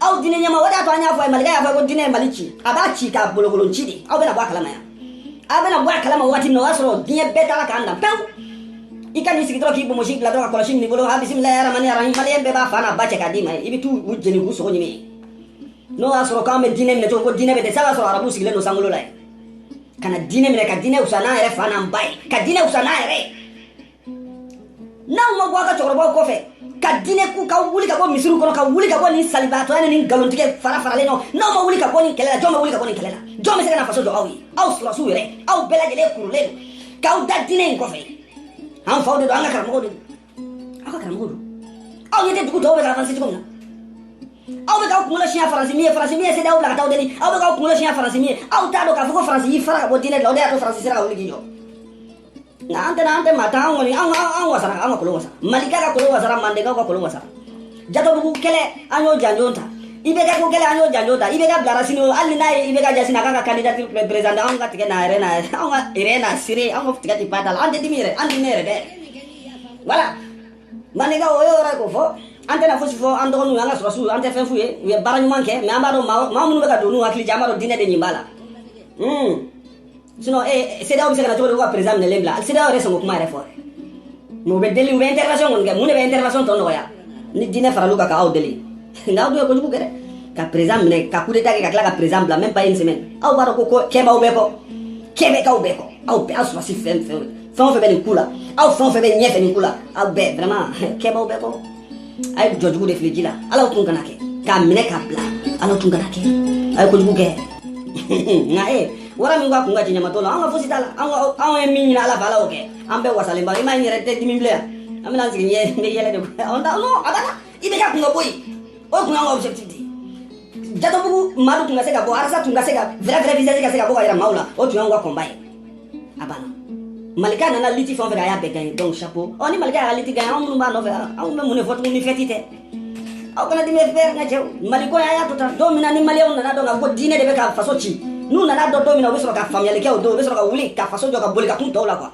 aw diinɛ ɲɛma o de y'a to an y'a fɔ ye malikɛ y'a fɔ ko diinɛ ye mali ci a b'a ci k'a bolokolon ci de aw bɛna bɔ a kalama yan aw bɛna bɔ a kalama waati min na o y'a sɔrɔ diɲɛ bɛɛ taara k'an dan pewu i ka n'i sigi dɔrɔn k'i bonbonsi bila dɔrɔn ka kɔlɔsi minɛ i bolo ha bisimilayi aramani arahim maliyɛn bɛɛ b'a fa n'a ba cɛ k'a d'i ma ye i bɛ t'u u jeni k'u sogo ɲimi n'o y'a sɔrɔ k'an bɛ diinɛ minɛ cogo ko diinɛ bɛ dɛsɛ a b'a sɔrɔ arabu sigilen don sankolo la yen ka na diinɛ minɛ ka diinɛ wusa n'an yɛrɛ fa n'an ba ye ka diinɛ wusa n'an yɛrɛ ye n'aw ma bɔ aw ka cɛkɔrɔbaw kɔfɛ ka diinɛ ku ka wuli ka bɔ misiriw kɔnɔ ka wuli ka bɔ nin salibaatɔya ni nin nkalontigɛ fara faralen nɔ n'aw ma wuli ka bɔ nin kɛlɛ la jɔn bɛ wuli ka bɔ nin kɛlɛ la jɔn bɛ se ka na faso jɔ aw ye aw sɔrɔsiw yɛrɛ aw bɛɛ lajɛlen kurulen don k'aw da diinɛ in kɔfɛ an faw de don an ka karamɔgɔw de don aw ka karamɔgɔw don aw ɲɛ tɛ dugu tɔw bɛ ka avanse cogo min na aw bɛ k'aw kunkolo siɲɛ faransi min ye faransi min ye sedaw bila ka taa aw deli aw bɛ k'aw kunkolo siɲɛ faransi min ye aw t'a dɔn k'a fɔ ko faransi y'i fara ka bɔ diinɛ de la o de y'a to faransi sera ka wuli k'i jɔ Nka an tɛ an tɛ maa tan kɔni an wasara an ka ko la an wasara malikɛ ka ko la an wasara mandenkaw ka ko la an wasara jatɔbugu kɛlɛ an y'o janjo ta IBK ko kɛlɛ an y'o janjo ta IBK bilara sini hali n'a ye IBK jasi a ka candidat président an ka tigɛ n'a yɛrɛ n'a yɛrɛ an ka yɛrɛ n'a siri an ka tigɛ ba da la an tɛ dimi yɛrɛ an ne yɛrɛ dɛ wala mandenkaw o yɔrɔ ko fɔ an tɛna fosi fɔ an dɔgɔninw an ka sɔrɔsiw an tɛ fɛn f'u ye u ye baara ɲuman kɛ mais an b'a dɔn maa minnu bɛ ka don n'u hakili jan an b'a dɔn diinɛ de nin b'a la sinon ee sedaw bɛ se ka na cogo di ko ka perezan minɛlen bila sedaw yɛrɛ sɔn k'o kuma yɛrɛ fɔ mais u bɛ deli u bɛ intervention kɔni kɛ mun de bɛ intervention tɔ nɔgɔya ni diinɛ faral'u kan k'aw deli nka aw dun ye kojugu kɛ dɛ ka perezan minɛ ka coup d'état kɛ ka tila ka perezan bila même pas une semaine aw b'a dɔn ko ko kɛ b'aw bɛɛ kɔ kɛ bɛ k'aw bɛɛ kɔ aw bɛɛ aw sɔrɔsi fɛn fɛn fɛn o fɛn bɛ nin ku la aw fɛn o fɛn bɛ ɲɛfɛ nin ku la aw bɛɛ vraiment kɛ b'aw bɛɛ kɔ a ye jɔ jugu de fili ji la ala tun kana kɛ k'a minɛ k'a bila ala tun kana kɛ a ye kojugu kɛ nka e wara min ka kun ka tiɲɛmatɔ la an ka fosi t'a la anw ye min ɲini ala fɛ ala y'o kɛ an bɛɛ wasalenba i m'a n yɛrɛ tɛ dimi bilen yan an bɛna sigi ɲɛ n bɛ yɛlɛ de an ta non a bana IBK kun ka bɔ yen o kun y'an ka objectif de ye jatɔbugu maa dɔ tun ka se ka bɔ arasa tun ka se ka vrai vrai visage ka se ka bɔ ka yira maaw la o tun y'anw ka combat ye a banna malikɛ nana liti fɛn o fɛn a y'a bɛɛ gagné donc chapeau ɔ ni malikɛ y'a liti gagné anw minnu b'a nɔfɛ anw bɛ mun de fɔ tuguni ni fɛti tɛ aw kana dimi n fɛ n ka cɛw maliko a y'a to tan don min na ni maliyɛnw nan'a dɔn k'a fɔ diinɛ de bɛ ka faso ci n'u nan'a dɔn don min na u bɛ sɔrɔ ka faamuyali kɛ o don u bɛ sɔrɔ ka wuli ka faso jɔ ka boli ka kun tɔw la quoi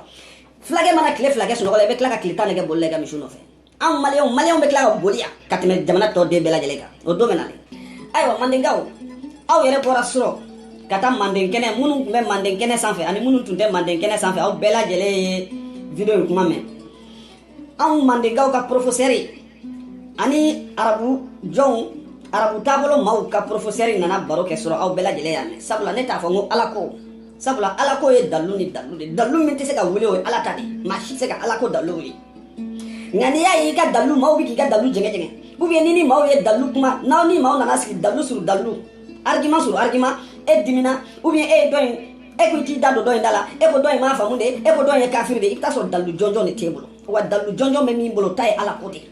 fulakɛ mana tile fila kɛ sunɔgɔ la i bɛ tila ka tile tan de kɛ boli la i ka misiw nɔfɛ anw maliyɛnw maliyɛnw bɛ tila ka boli yan ka tɛmɛ jamana tɔ den bɛɛ lajɛlen kan o don bɛ na dɛ ayiwa mandenkaw aw yɛrɛ bɔra surɔ ka taa manden kɛnɛ minnu tun bɛ manden kɛnɛ sanfɛ ani minnu tun tɛ manden kɛnɛ sanfɛ aw bɛɛ lajɛlen ye video in kuma mɛn anw mandenkaw ka porofosɛri ani arabu jɔnw arabu taabolo maaw ka porofosɛri nana baro kɛ surɔ aw bɛɛ lajɛlen y'a mɛn sabula ne t'a fɔ n ko ala ko sabula ala ko ye dalu ni dalu de dalu min tɛ se ka wuli o ye ala ta de maa si tɛ se ka ala ko dalu wuli nka n'i y'a ye i ka dalilu maaw bɛ k'i ka dalilu jɛngɛjɛngɛ ou bien ni ni maaw ye dalilu kuma n'aw ni maaw nana sigi dalilu sur dalilu argument sur argument e dimina ou bien e ye dɔ in e ko i t'i da don dɔ in da la e ko dɔ in m'a faamu de e ko dɔ in ye kafiri de i bɛ taa sɔrɔ dalilu jɔnjɔn de t'e bolo wa dalilu jɔnjɔn bɛ min bolo ta ye ala ko de ye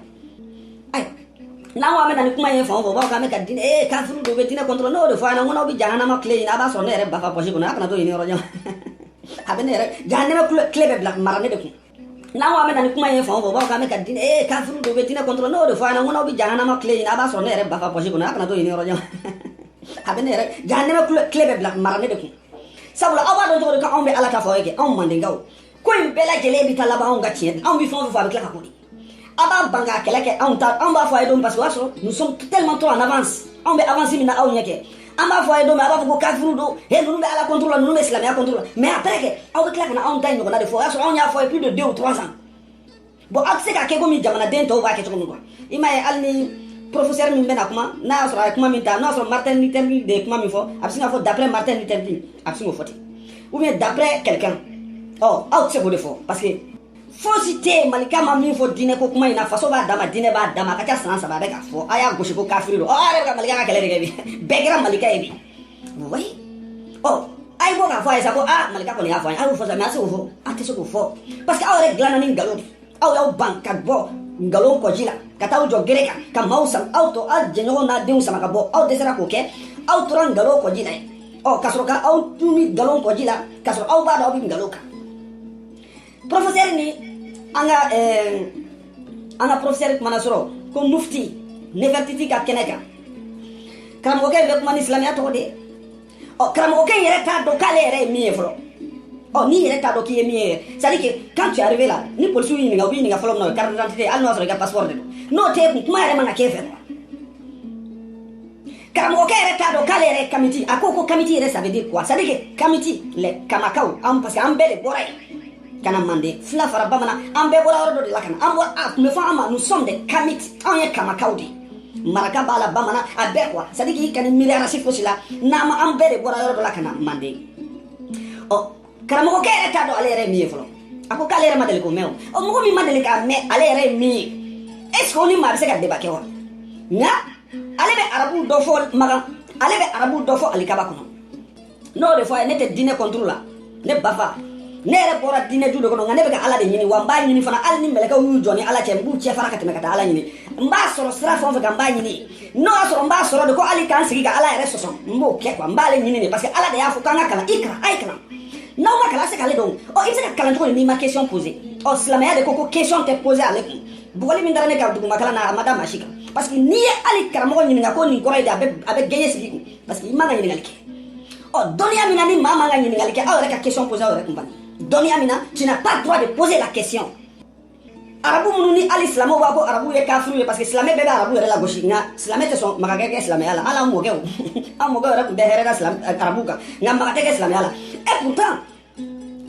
ayi n'an ko an bɛ na ni kuma ye fan o fan u b'a fɔ k'an bɛ ka diinɛ ee kafiri don u bɛ diinɛ contre la n'o de fɔ a ɲɛna n ko n'aw bɛ jahanama clé ɲini a b'a sɔrɔ ne yɛrɛ ba ka poche kɔnɔ a kana t'o ɲini yɔrɔ jan a bɛ ne yɛrɛ jahanama clé bɛ bila mara ne de kun n'an ko an bɛ na ni kuma ye fan o fan u b'a fɔ k'an bɛ ka diinɛ ee kafiriw don u bɛ diinɛ contre la n'o de fɔ a ɲɛna n ko n'aw bɛ jahanama clé ɲini a b'a sɔrɔ ne yɛrɛ ba ka poche kɔnɔ a kana t'o ɲini yɔrɔ jan a bɛ ne yɛrɛ jahanama clé bɛ bila mara ne de kun sabula aw b'a dɔn cogo di ko anw bɛ ala ta fɔ aw ye kɛ anw mandenkaw ko in bɛɛ lajɛlen bɛ taa laban anw ka tiɲɛ anw bɛ fɛn o fɛn fɔ a bɛ tila ka k'o de aw b'a ban k'a kɛlɛ kɛ anw ta anw b'a fɔ a ye don parce que o y'a sɔrɔ nous sommes tellement trop en avance anw bɛ avance min na aw ɲɛ kɛ an b'a fɔ a ye don min a b'a fɔ ko kafiru don he ninnu bɛ ala contre la ninnu bɛ silamɛya contre la mais après kɛ aw bɛ tila ka na anw ta in ɲɔgɔnna de fɔ o y'a sɔrɔ anw y'a fɔ a ye plus de deux ou trois ans bon aw tɛ se ka kɛ komi jamanaden tɔw b'a kɛ cogo min quoi i m'a ye hali ni professeur min bɛna kuma n'a y'a sɔrɔ a ye kuma min ta n'a y'a sɔrɔ martin luther king de ye kuma min fɔ a bɛ sin k'a fɔ d'après martin luther king a bɛ sin k'o fɔ ten ou bien d'après quelqu'un ɔ aw tɛ se k'o de fɔ parce que fosi tɛ yen malika ma min fɔ diinɛ ko kuma in na faso b'a dama diinɛ b'a dama a ka ca san saba a bɛ k'a fɔ a y'a gosi ko kafiri don ɔ a yɛrɛ bɛ ka malika ka kɛlɛ de kɛ bi bɛɛ kɛra malika ye bi wayi ɔ a ye bɔ k'a fɔ a ye sa ko aa malika kɔni y'a fɔ an ye a y'o fɔ sa mais a se k'o fɔ a tɛ se k'o fɔ parce que aw yɛrɛ dilanna ni nkalon de aw y'aw ban ka bɔ nkalon kɔji la ka taa aw jɔ gere kan ka maaw sama aw tɔ aw jɛɲɔgɔn n'a denw sama ka bɔ aw dɛsɛra k'o kɛ aw tora nkalon kɔji la ye ɔ ka sɔrɔ ka aw tun bɛ nkalon kɔji la ka sɔrɔ aw b'a dɔn aw bɛ nkalon kan professeur ni an ka eh, an ka professeur kumana surɔ ko mufti nefertiti ka kɛnɛ kan karamɔgɔkɛ bɛ kuma ni silamɛya tɔgɔ de ye ɔ karamɔgɔkɛ in yɛrɛ t'a dɔn k'ale yɛrɛ ye min ye fɔlɔ ɔ n'i yɛrɛ t'a dɔn k'i ye min ye c'est à dire que quand tu es arrivé là ni polisiw y'i ɲininka u b'i ɲininka fɔlɔ min na o ye carte d'identité hali n'o y'a sɔrɔ i ka passeport de don n'o t'e kun kuma yɛrɛ man ka k'e fɛ karamɔgɔkɛ yɛrɛ t'a dɔn k'ale yɛrɛ ye kamiti a ko ko kamiti yɛrɛ ça veut dire quoi c'est à dire que kamiti les kamakaw an parce que an bɛɛ de bɔra yen ka na manden fila fara bamanan an bɛɛ bɔra yɔrɔ dɔ de la ka na an bɔra a tun bɛ fɔ an ma nous sommes des kamiti anw ye kamakaw de ye maraka b'a la bamanan a bɛɛ quoi c'est à dire k'i kan'i miiri race fosi la n'an ma an bɛɛ de bɔra yɔrɔ dɔ la ka na manden ɔ karamɔgɔkɛ yɛrɛ t'a dɔn ale yɛrɛ ye min ye fɔlɔ a ko k'ale yɛrɛ ma deli k'o mɛn o ɔ mɔgɔ min ma deli k'a mɛn ale yɛrɛ ye min ye est ce que o ni maa bɛ se ka débat kɛ wa nka ale bɛ arabu dɔ fɔ makan ale bɛ arabu dɔ fɔ alikaba kɔnɔ n'o de fɔ a ye ne tɛ diinɛ contre la ne bafa ne yɛrɛ bɔra diinɛ du de kɔnɔ nka ne bɛ ka ala de ɲini wa n b'a ɲini fana hali ni mɛlɛkɛw y'u jɔ n ni ala cɛ n b'u cɛ fara ka tɛmɛ ka taa ala ɲini n b'a sɔrɔ sira fɛn o fɛn kan n b'a ɲini n'o y'a sɔrɔ n b'a sɔrɔ de ko hali k'an sigi ka ala yɛrɛ sɔsɔ n b'o kɛ quoi n b'ale ɲini de parce que ala de y'a fɔ k'an ka kalan i kalan a ye kalan n'aw ma kalan se k'ale dɔn ɔ i bɛ se ka kalan cogo di n'i ma question poser ɔ silamɛya de ko ko question tɛ poser ale kun bugɔli min dara ne ka dugumakalan na a ma da maa si kan parce que n'i ye hali karamɔgɔ ɲininka ko nin kɔrɔ ye di a bɛ gɛɲɛ sigi i kun parce que i man ka ɲininkali kɛ ɔ dɔnniya min na ni maa man ka ɲininkali kɛ aw yɛrɛ ka question poser aw yɛrɛ kun bani dɔnniya min na tu n'as pas droit de poser la question arabu minnu ni hali silamɛw b'a fɔ arabu ye kafiriw ye parce que silamɛ bɛɛ bɛ arabu yɛrɛ lagosi nka silamɛ tɛ sɔn maga ka kɛ silamɛya la hali an mɔkɛw an mɔkɛw yɛrɛ tun tɛ hɛrɛ da arabu kan nka maga tɛ kɛ silamɛya la et pourtant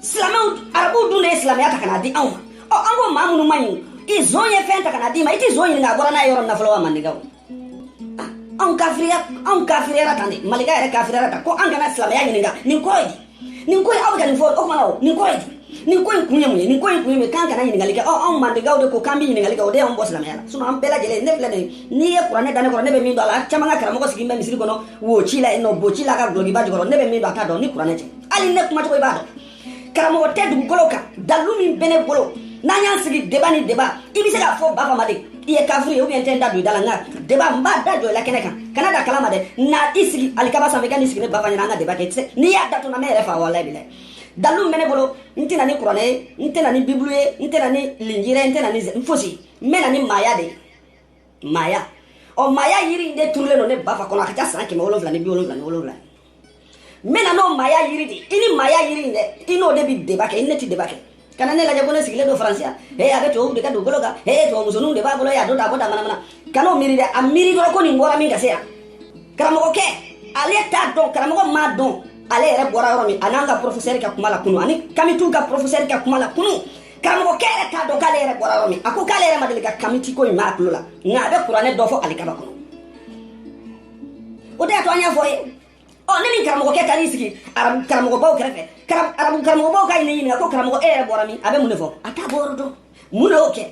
silamɛw arabuw dun de ye silamɛya ta ka na di anw ma ɔ an ko maa minnu man ɲi ni zon ye fɛn ta ka na d'i ma i tɛ zon ɲininka a bɔra n'a ye yɔrɔ min na fɔlɔ wa mandekaw anw kafiriya anw kafiriyara tan de malika yɛrɛ kafiriyara tan ko an kana silamɛya ɲininka nin kɔrɔ ye di nin ko in aw bɛ ka nin fɔ o kuma na o nin kɔrɔ ye di nin ko in kun ye mun ye nin ko in kun ye mun ye k'an kana ɲininkali kɛ ɔ anw mandekaw de ko k'an bɛ ɲininkali kɛ o de y'anw bɔ silamɛya la sinon an bɛɛ lajɛlen ne filɛ nin ye n'i ye kuranɛ da ne kɔrɔ ne bɛ min dɔn a la caman ka karamɔgɔ sigilen bɛ misiri kɔnɔ wo ci la yen nɔ bo ci la ka dulɔkiba jukɔrɔ ne bɛ min dɔn a t'a dɔn ni kuranɛ tɛ hali ne kumacogo i b'a dɔn karamɔgɔ tɛ dugukolo kan dalu min bɛ ne bolo n'an y'an sigi débat ni débat i bɛ se k'a fɔ ba fama de i ye kafiri ye ou bien n tɛ n da don i da la nka débat n b'a da jɔ i la kɛnɛ kan kana da kala ma dɛ na i sigi alikaba sanfɛ i ka n'i sigi ne ba fa ɲɛna an ka débat kɛ i tɛ se n'i y'a da to na ne yɛrɛ fa walayi bilayi dalu min bɛ ne bolo n tɛ na ni kuranɛ ye n tɛ na ni bibulu ye n tɛ na ni linjira ye n tɛ na ni fosi n bɛ na ni maaya de ye maaya ɔ maaya yiri in de turulen don ne ba fa kɔnɔ a ka ca san kɛmɛ wolonwula ni bi wolonwula ni wolonwula n bɛ na n'o maaya yiri de i ni maaya yiri in dɛ i n'o de bɛ débat kɛ i ni ne tɛ débat kɛ kana ne lajɛ ko ne sigilen don faransi yan ee a bɛ tubabuw de ka dugukolo kan ee tubabumusoniw de b'a bolo yan a don ta a ko da manamana kan'o miiri dɛ a miiri dɔrɔn ko nin bɔra min ka se yan karamɔgɔkɛ ale t'a dɔn karamɔgɔ m'a dɔn ale yɛrɛ bɔra yɔrɔ min a n'an ka porofesɛri ka kuma la kunu ani kamitiw ka porofesɛri ka kuma la kunu karamɔgɔkɛ yɛrɛ t'a dɔn k'ale yɛrɛ bɔra yɔrɔ min a ko k'ale yɛrɛ ma deli ka kamiti ko in mɛn a tulo la nka a bɛ kuranɛ dɔ fɔ alikaba kɔnɔ o de y'a to an y'a fɔ ye ɔ ne ni karamɔgɔkɛ taar'i sigi arabu karamɔgɔbaw kɛrɛfɛ Karam- arabu karamɔgɔbaw k'a ɲini- ɲininka ko karamɔgɔ e yɛrɛ bɔra min a bɛ mun de fɔ a t'a bɔyɔrɔ dɔn mun de y'o kɛ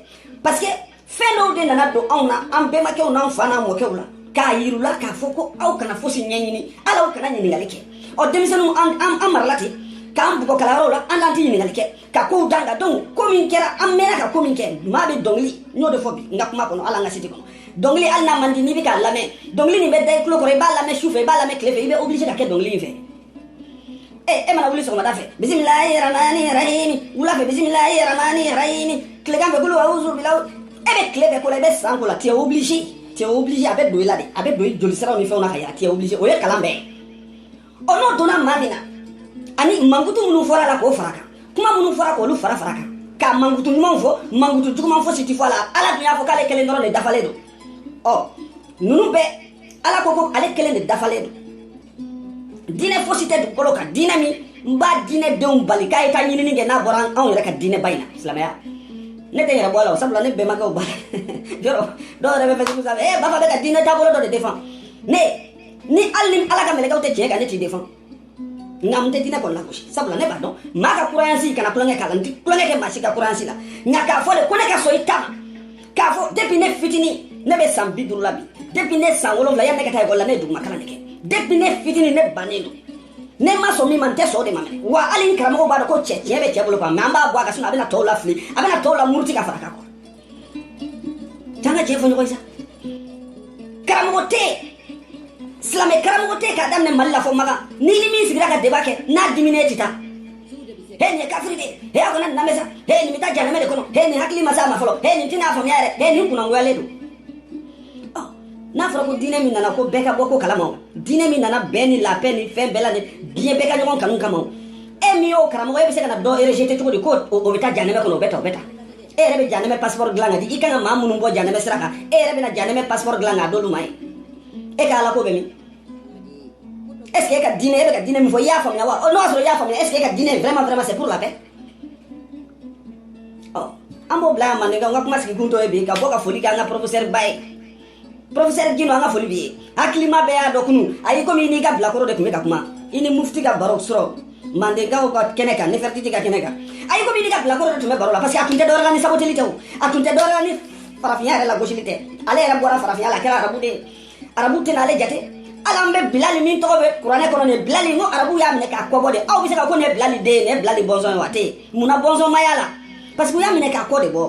parce que fɛn dɔw de nana don anw na an bɛnbakɛw n'an fa n'an mɔkɛw la k'a yir'u la k'a fɔ ko aw kana fosi ɲɛɲini a la aw kana ɲininkali kɛ ɔ denmisɛnninw an- an an marala ten k'an bugɔ kalanyɔrɔw la an t'an tɛ ɲininkali kɛ ka kow da la donc ko min kɛra an mɛnna ka ko min kɛ maa bɛ dɔnkili n y'o de fɔ bi n ka kuma kɔnɔ hali an ka siti kɔnɔ dɔnkili hali n'a man di n'i bɛ k'a lamɛn dɔnkili nin bɛ da i tulo kɔrɔ i b'a lamɛn su fɛ i b'a lamɛn tile fɛ i bɛ obligé ka kɛ dɔnkili in fɛ ee e mana wuli sɔgɔmada fɛ bisimilayi ramani rahimi wula fɛ bisimilayi ramani rahimi tilegan fɛ kulu awuzu bilaw e bɛ tile bɛɛ k'o la i bɛ san k'o la tu es obligé tu es obligé a bɛ don i la de a bɛ don i jolisiraw ni fɛnw na ka yɛlɛ tu es obligé o ye kalan bɛɛ ye ɔ n'o donna maa min na ani mankutu minnu fɔra la k'o fara kan kuma minnu fɔra k'olu fara fara kan ka mankutu ɲumanw fɔ mankutu juguman fosi ti fɔ a la ala dun y'a fɔ k'ale kelen dɔrɔn de dafalen don ɔ ninnu bɛɛ ala ko ko ale kelen de dafalen don diinɛ fosi tɛ dugukolo kan diinɛ min b'a diinɛ denw bali k'a ye ka ɲinini kɛ n'a bɔra anw yɛrɛ ka diinɛ ba in na silamɛya ne tɛ n yɛrɛ bɔ a la o sabula ne bɛnbakɛw b'a la yɔrɔ dɔw yɛrɛ bɛ Facebook sanfɛ ee b'a fɔ a bɛ ka diinɛ taabolo dɔ de defan ne ni hali ni ala ka mɛlɛkɛw tɛ tiɲɛ kan ne t'i defan nka n tɛ diinɛ kɔni lagosi sabula ne b'a dɔn maa ka croyance kana tulonkɛ k'a la n tɛ tulonkɛ kɛ maa si ka croyance la nka k'a fɔ de ko ne ka sɔn i ta ma k'a fɔ depuis ne fitini ne bɛ san bi duuru la bi depuis ne san wolonwula yanni ne ka taa ekɔli la ne ye duguma kalan de kɛ depuis ne fitini ne bannen don ne ma sɔn min ma n tɛ sɔn o de ma mɛnɛ wa hali n karamɔgɔw b'a dɔn ko cɛ tiɲɛ bɛ cɛ bolo quoi mais an b'a bɔ a ka sinɔ a bɛna tɔw lafili a bɛna tɔw lamuruti ka fara kan Taa ka cɛ fɔ ɲɔgɔn sa karamɔgɔ tɛ silamɛ karamɔgɔ tɛ k'a daminɛ mali la fo makan n'i ni min sigira ka débat kɛ n'a diminen tɛ taa he nin ye kafiri de he a kana lamɛn sa he nin bɛ taa janɛmɛ de kɔnɔ he nin hakili ma s'a ma fɔlɔ he nin tɛna a faamuya yɛrɛ he nin kunangoyalen don n'a fɔra ko diinɛ min nana ko bɛɛ ka bɔ ko kalama o diinɛ min nana bɛn ni la paix ni fɛn bɛɛ la de diɲɛ bɛɛ ka ɲɔgɔn kanu kama o e min y'o karamɔgɔ e bɛ se ka na dɔ rejeter cogo di ko o bɛ taa janɛmɛ kɔnɔ o bɛ taa o bɛ taa e yɛrɛ bɛ janɛmɛ pasipɔri dilan k'a di i kan ka maa minnu bɔ janɛmɛ sira kan e yɛrɛ bɛna janɛmɛ pasipɔri dilan k'a d'olu ma ye e ka ala ko bɛ min est ce que e ka diinɛ e bɛ ka diinɛ min fɔ i y'a faamuya wa n'o y'a sɔrɔ i y'a faamuya est ce que e ka diinɛ vraiment vraiment c'est pour la paix ɔ an b'o bila yan mandenkaw n ka kuma sigikun tɔ ye bi ka bɔ ka foli kɛ an ka professeur ba ye professeur Gino an ka foli b'i ye hakilima bɛɛ y'a dɔn kunun a y'i komi i n'i ka bilakoro de tun bɛ ka kuma i ni mufti ka baro sɔrɔ mandenkaw ka kɛnɛ kan nefertiti ka kɛnɛ kan a y'i komi i n'i ka bilakoro de tun bɛ baro la parce que a tun tɛ dɔwɛrɛ la ni saboteli tɛ o a tun tɛ dɔwɛrɛ la ni farafinya yɛrɛ lagosili tɛ ale yɛrɛ bɔra farafinya la a kɛra arabu de ye arabu tɛna ale jate hali an bɛ bilali min tɔgɔ bɛ kuranɛ kɔnɔ nin bilali n ko arabu y'a minɛ k'a kɔbɔ de aw bɛ se ka ko nin ye bilali den ye nin ye bilali bɔnsɔn ye wa a tɛ yen munna bɔnsɔn ma y'a la parce que u y'a minɛ k'a kɔ de bɔ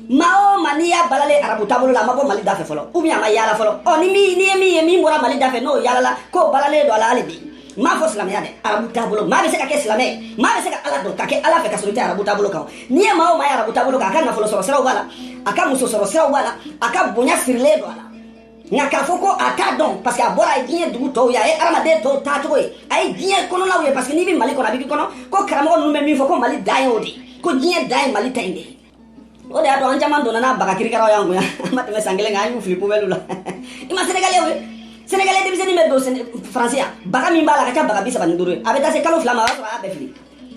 maa o maa n'i y'a balalen arabu taabolo la a ma bɔ mali da fɛ fɔlɔ ou bien a ma yaala fɔlɔ ɔ ni min n'i ye min ye min bɔra mali da fɛ n'o yaalala k'o balalen don a la hali bi n m'a fɔ silamɛya dɛ arabu taabolo maa bɛ se ka kɛ silamɛ ye maa bɛ se ka ala dɔn ka kɛ ala fɛ k'a sɔrɔ i tɛ arabu taabolo kan n'i ye maa o maa ye arabu taabolo kan a ka nafolo sɔrɔ siraw b'a la a ka muso sɔrɔ siraw b'a la a ka bonya sirilen don a la nka k'a fɔ ko a t'a dɔn parce que a bɔra a ye diɲɛ dugu tɔw ye a ye adamaden tɔw taacogo ye a ye diɲɛ kɔnɔnaw ye parce que n'i bɛ mali kɔnɔ a bɛ k'i kɔnɔ ko karamɔgɔ ninnu bɛ min fɔ ko mali dan ye o de ko diɲɛ dan ye mali ta in de ye o de y'a to an caman donna n'an baga kirikaraw y'an kun yan an ma tɛmɛ san kelen kan an y'u fili poubelle la i ma senegalais ye senegalais denmisɛnnin bɛ don faransi yan baga min b'a la a ka ca baga bi saba ni duuru ye a bɛ taa se kalo fila ma a b'a sɔrɔ a y'a bɛɛ fili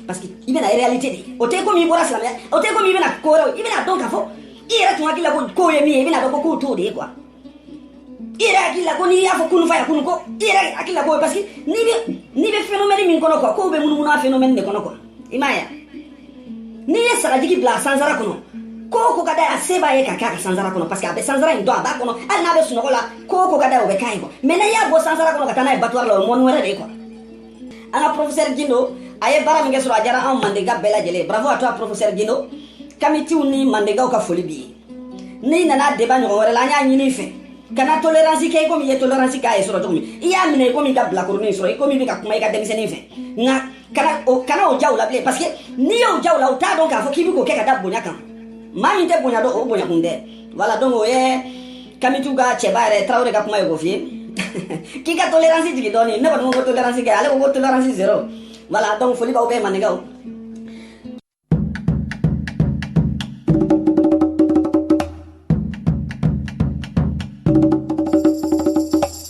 parce que i bɛna réalité de o tɛ komi i bɔra silamɛya o tɛ komi i bɛna ko wɛrɛw i bɛna dɔn k'a fɔ i yɛrɛ tun hakili la ko kow ye min ye i bɛna dɔn ko kow t'o de ye quoi i yɛrɛ hakili la ko n'i y'a fɔ kunu fa ya kunu ko i yɛrɛ hakili la ko parce que n'i bɛ n'i bɛ phénomène min kɔnɔ quoi kow bɛ munumunu a phénomène de kɔnɔ quoi i m'a ye wa n'i ye sagajigi bila a sansara kɔnɔ ko o ko ka d'a ye a se b'a ye ka kɛ a ka sansara kɔnɔ parce que a bɛ sansara in dɔn a b'a kɔnɔ hali n'a bɛ sunɔgɔ la ko o ko ka d'a ye o bɛ k'a ye quoi mais n'i y'a bɔ sansara kɔnɔ ka taa n'a ye abattoir la o ye monde wɛrɛ de ye quoi an ka professeur gindo a ye baara min kɛ surɔ a diyara anw mandenka bɛɛ lajɛlen bravo à toi professeur gindo kamitiw ni mandenkaw ka foli b'i ye n'i nana débat ɲɔgɔn wɛrɛ la an y'a ɲini i fɛ kana tolerance kɛ i komi i ye tolerance k'a ye surɔ cogo min i y'a minɛ i komi i ka bilakoronin sɔrɔ i komi i bɛ ka kuma i ka denmisɛnnin fɛ nka kana o kana o jira u la bilen parce que n'i y'o jira u la u t'a dɔn k'a fɔ k'i bɛ k'o kɛ ka da bonya kan maa min tɛ bonya dɔn o bonyakun tɛ voilà donc o ye kamitiw ka cɛba yɛrɛ tarawele ka kuma ye k'o f'i ye k'i ka tolerance jigin dɔɔni ne kɔni ko tolerance kɛ ale ko ko tolerance zero voilà donc foli b'aw bɛɛ maninkaw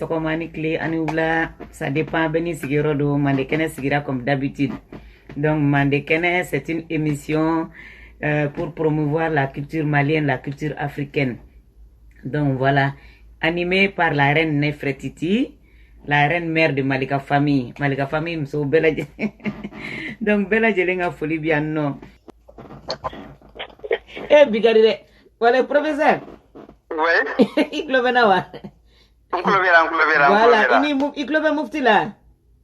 sɔgɔma a ni tile a ni wula ça dépend bɛɛ n'i sigiyɔrɔ don mande kɛnɛ sigira comme d'habitude donc mande kɛnɛ c'est une émission euh, pour promouvoir la culture malienne la culture africaine Donc voilà, animé par la reine Nefretiti, la reine mère de Malika famille. Malika famille, muso bɛɛ lajɛlen. Donc bɛɛ lajɛlen ka foli bi yan nɔ. Eh bi ka di dɛ. Voilà professeur. Oui. I tulo bɛ n na wa? N tulo b'i la, n tulo b'i la, n tulo b'i la. Voilà, i ni i tulo bɛ mufti la.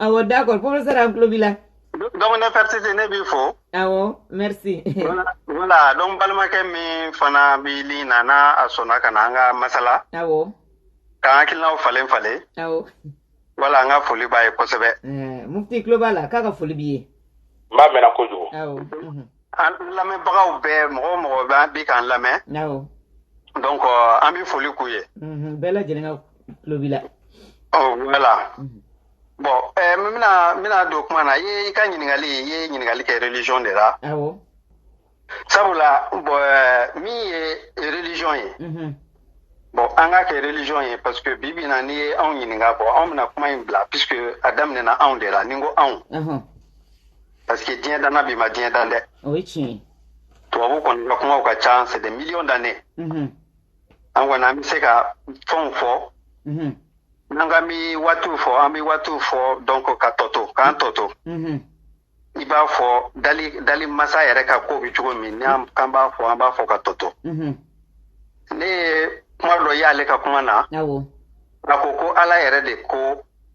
awɔ d'accord professeur an tulo b'i la donc nefretiti ne b'i fo awɔ merci voilà donc balimakɛ min fana bɛ ligne na n'a a sɔnna ka na an ka masala awɔ k'an hakilinaw falen falen awɔ voilà an ka foli b'a ye kosɛbɛ mufti tulo b'a la k'a ka foli b'i ye n b'a mɛnna kojugu awɔ An lamɛnbagaw bɛɛ mɔgɔ o mɔgɔ bɛ an bi k'an lamɛn donc an bɛ foli k'u ye bɛɛ lajɛlen ka tulo bila voilà bon n bɛna don kuma na i ka ɲininkali i ye ɲininkali kɛ religion de la sabula bon min ye religion ye bon an k'a kɛ religion ye parce que bi bi in na n'i ye anw ɲininka bon anw bɛna kuma in bila puisque a daminɛna anw de la ni n ko anw parce que diɲɛ danna bi ma diɲɛ dan dɛ o ye tiɲɛ ye tubabu kɔni ka kumaw ka ca c'est des millions d'années Mhm, an kɔni an bɛ se ka fɛnw fɔ mhm, n'an k'an bɛ waatiw fɔ an bɛ waatiw fɔ donc k'a tɔ to k'a tɔ to mhm. i b'a fɔ dali dali masa yɛrɛ ka ko bɛ cogo min n'an k'an b'a fɔ an b'a fɔ k'a tɔ to Mhm, ne ye kuma dɔ y'ale ka kuma na awɔ a ko ko ala yɛrɛ de ko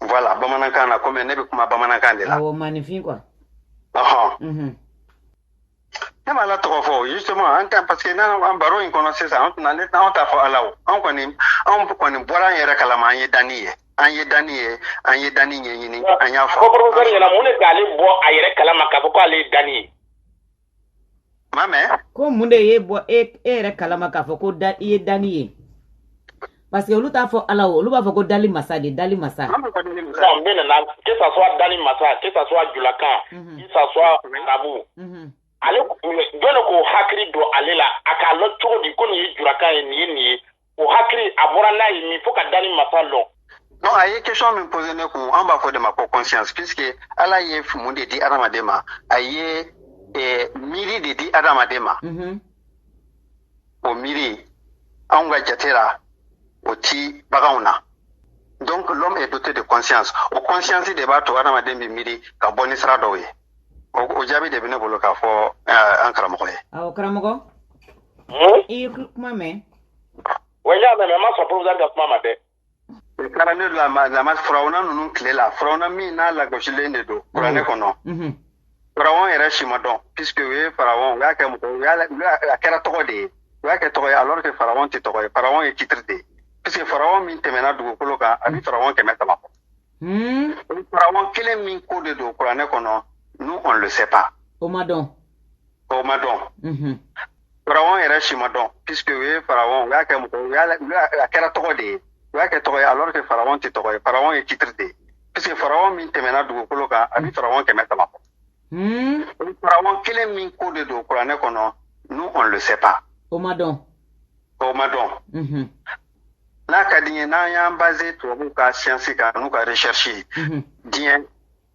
voilà bamanankan na komi ne bɛ kuma bamanankan de la. awɔ maaninfin quoi. ɔhɔn. ne ma ala tɔgɔ fɔ justement an ka parce que n'an an baro in kɔnɔ sisan an tɛna ne anw t'a fɔ ala o anw kɔni anw kɔni bɔra an yɛrɛ kalama an ye danni ye an ye danni ye an ye danni ɲɛɲini an y'a fɔ. ko professeur ɲɛna mun de k'ale bɔ a yɛrɛ kalama k'a fɔ k'ale ye danni ye. ko mun de y'e bɔ e, e yɛrɛ kalama k'a fɔ ko da i ye danni ye parce que olu t'a fɔ ala o olu b'a fɔ ko dali masa de dali masa mais nana que ça soit dali masa que ça soit julakan mhm. que ça soit arabu mhm. ale jɔn de k'o hakili don ale la a k'a lɔn cogo di ko nin ye julakan ye nin ye nin ye o hakili a bɔra n'a ye min fo ka danni masa lɔn non a ye question min poser ne kun an b'a fɔ de ma ko conscience puisque ala ye mun de di adamaden ma a ye eh, miiri de di adamaden ma mm -hmm. o miiri anw ka jate la o ti baganw na donc l'homme est doté de conscience o conscience de b'a to adamaden bɛ miiri ka bɔ ni sira dɔw ye o jaabi de bɛ ne bolo k'a fɔ eh, an karamɔgɔ ye awɔ karamɔgɔ i ye kuma mɛn wa n y'a mɛn mais n ma sɔn professeur ka kuma ma dɛ o taara ne lama lama firawuna ninnu tile la firawuna min n'a lagosilen de don kuranɛ mhm. kɔnɔ mhm. firawɔn yɛrɛ si ma dɔn puisque u ye firawɔn u y'a kɛ mɔgɔ u y'a a kɛra tɔgɔ de ye u y'a kɛ tɔgɔ ye alors que firawɔn tɛ tɔgɔ ye firawɔn ye titre de ye puisque firawɔn min tɛmɛna dugukolo kan a bɛ mhm. firawɔn kɛmɛ saba bɔ hmm. firawɔn kelen min ko de don kuranɛ kɔnɔ nous on le sait pas o ma dɔn o ma dɔn Faraon yɛrɛ si ma dɔn puisque u ye Faraon u y'a kɛ mɔgɔ u y'a la u y'a a kɛra tɔgɔ de ye u y'a kɛ tɔgɔ ye alors que Faraon tɛ tɔgɔ ye Faraon ye titre de ye puisque Faraon min tɛmɛna dugukolo kan a bɛ Faraon kɛmɛ saba bɔ Hmm. o Faraon kelen min ko de don kuranɛ kɔnɔ nous on le sait pas O ma dɔn. o ma dɔn Mhm. n'a ka di n ye n'an y'an baser tubabuw ka siyansi kan n'u ka recherche ye Mhm. diɲɛ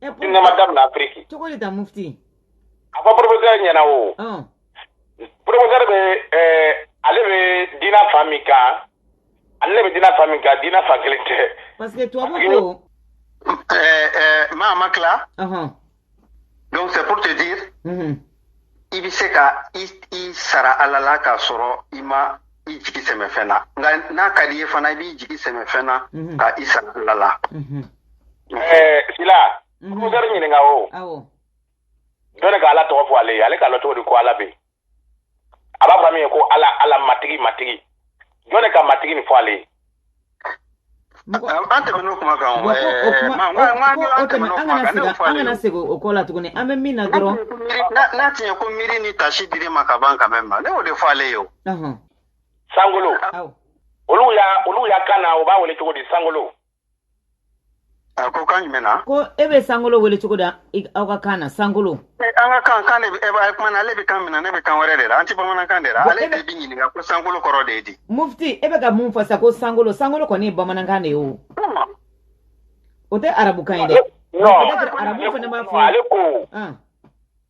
E pourquoi- diina ma damina Afiriki. cogo di ta mufti A fɔ professeur ɲɛna o. ɔn Professeur bɛ ɛɛ ale bɛ diina fan min kan ale de bɛ diina fan min kan diina fan kelen tɛ. parce que tubabu ko Euh, euh, Mahamakla, ɔhɔn donc c'est pour te dire mhm i bɛ se ka i i sara ala la k'a sɔrɔ i ma i jigi sɛmɛ fɛn na nka n'a ka di i ye fana i b'i jigi sɛmɛ fɛn na Mhm. ka i sara ala la Mhm. Eh, sila Mhm. professeur ɲininka o Awɔ. jɔn de ka ala tɔgɔ fɔ ale ye ale k'a lɔn cogo di ko ala bɛ yen a b'a fɔ min ye ko ala ala matigi matigi jɔn de ka matigi nin fɔ ale ye an kana segin o kɔ la tuguni an bɛ min na dɔrɔn n'a tiɲɛ ko miiri ni taasi dir'i ma ka ban quand même ne y'o de fɔ ale ye o sankolo olu ya kan na u b'a wele cogo di san A ko kan jumɛn na ko e bɛ sankolo wele cogo di aw ka kan na sankolo an ka kan de bɛ kuma na ale bɛ kan min na ne bɛ kan wɛrɛ de la an tɛ bamanankan de la ale bɛ ɲininka ko sankolo kɔrɔ de ye di mufiti e bɛ ka mun fɔ sa ko sankolo sankolo kɔni ye bamanankan de ye o o tɛ arabukan ye dɛ arabu fana b'a fɔ ale ko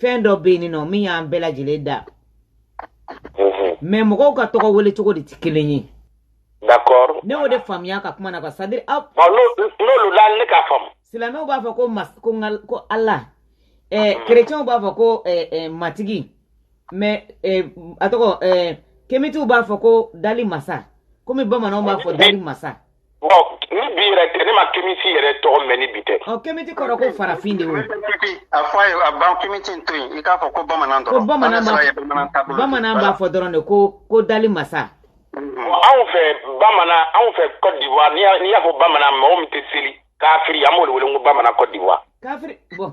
fɛn dɔ bɛ yen nɔ min y'an bɛɛ lajɛlen dan mais mɔgɔw ka tɔgɔ wele cogo de tɛ kelen ye ne y'o de faamuya a ka kuma na quoi c'est à dire aw n'olu la ne k'a faamu silamɛw b'a fɔ ko mas ko ngal ko ala ɛɛ kerecɛnw b'a fɔ ko ɛɛ matigi mais ɛɛ a tɔgɔ ɛɛ kemitiw b'a fɔ ko dali masa komi bamananw b'a fɔ dali masa Bon ni bi yɛrɛ tɛ ne ma kemisi yɛrɛ tɔgɔ mɛn ni bi tɛ. Ɔ kemiti kɔrɔ ko farafin de o. A fɔ a ye a ban kemiti to yen i k'a fɔ ko bamanan dɔrɔn. Ko bamanan b'a bamanan b'a fɔ dɔrɔn de ko ko dali masa. Mm-hmm. Anw fɛ bamanan anw fɛ Côte d'Ivoire n'i y'a fɔ bamanan mɔgɔ min tɛ seli kafiri an b'o de wele ko bamanan Côte d'Ivoire. Kafiri bɔn.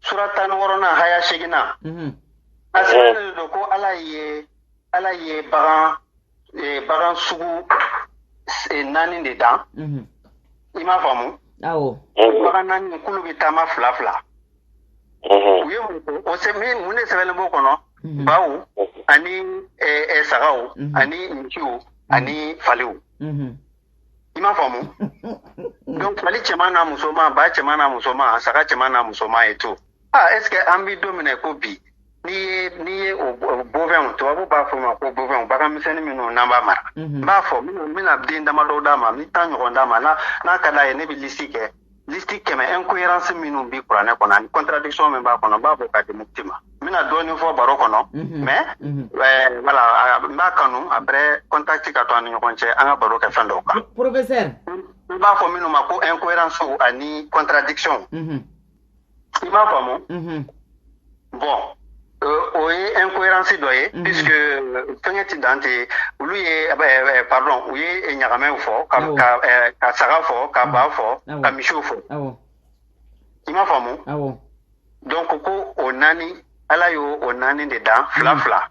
sura tan ni wɔɔrɔnan haya seginnan mhm. a sɛbɛnnen don ko ala ye ala ye bagan eh, bagan sugu eh, naani de dan mhm. i m'a faamu awɔ bagan naani k'olu bɛ taama fila fila u ye mun ko o sɛ min mun de sɛbɛnnen b'o kɔnɔ mhm. baw ani eh, eh, sagaw ani misiw ani faliw i m'a faamu donc fali cɛman n'a musoman ba cɛman n'a musoman a saga cɛman n'a musoman et tout ah est ce que an bɛ don min na ko bi n'i ye n'i ye o bovins tubabu b'a fɔ ma ko bovins baganmisɛnnin minnu n'an b'a mara n b'a fɔ n bɛna den damadɔ d'a ma n bɛ tan ɲɔgɔn d'a ma n'a ka d'a ye ne bɛ lisi kɛ Liste kɛmɛ incohérence minnu bɛ kuranɛ kɔnɔ ani contradiction min b'a kɔnɔ n b'a bɔ k'a di mufti ma n bɛna dɔɔnin fɔ baro kɔnɔ mais voilà n b'a kanu après contact ka to an ni ɲɔgɔn cɛ an ka baro kɛ fɛn dɔw kan professeur i b'a fɔ minnu ma ko incohérence ani contradiction i m'a faamu mhm. bon o ye incohérence dɔ ye mhm. puisque fɛngɛ ti dan tɛ olu ye pardon u ye ɲagamɛw fɔ ka saga fɔ ka ba fɔ ka misiw fɔ i m'a faamu donc ko o naani ala y'o o naani de dan fila fila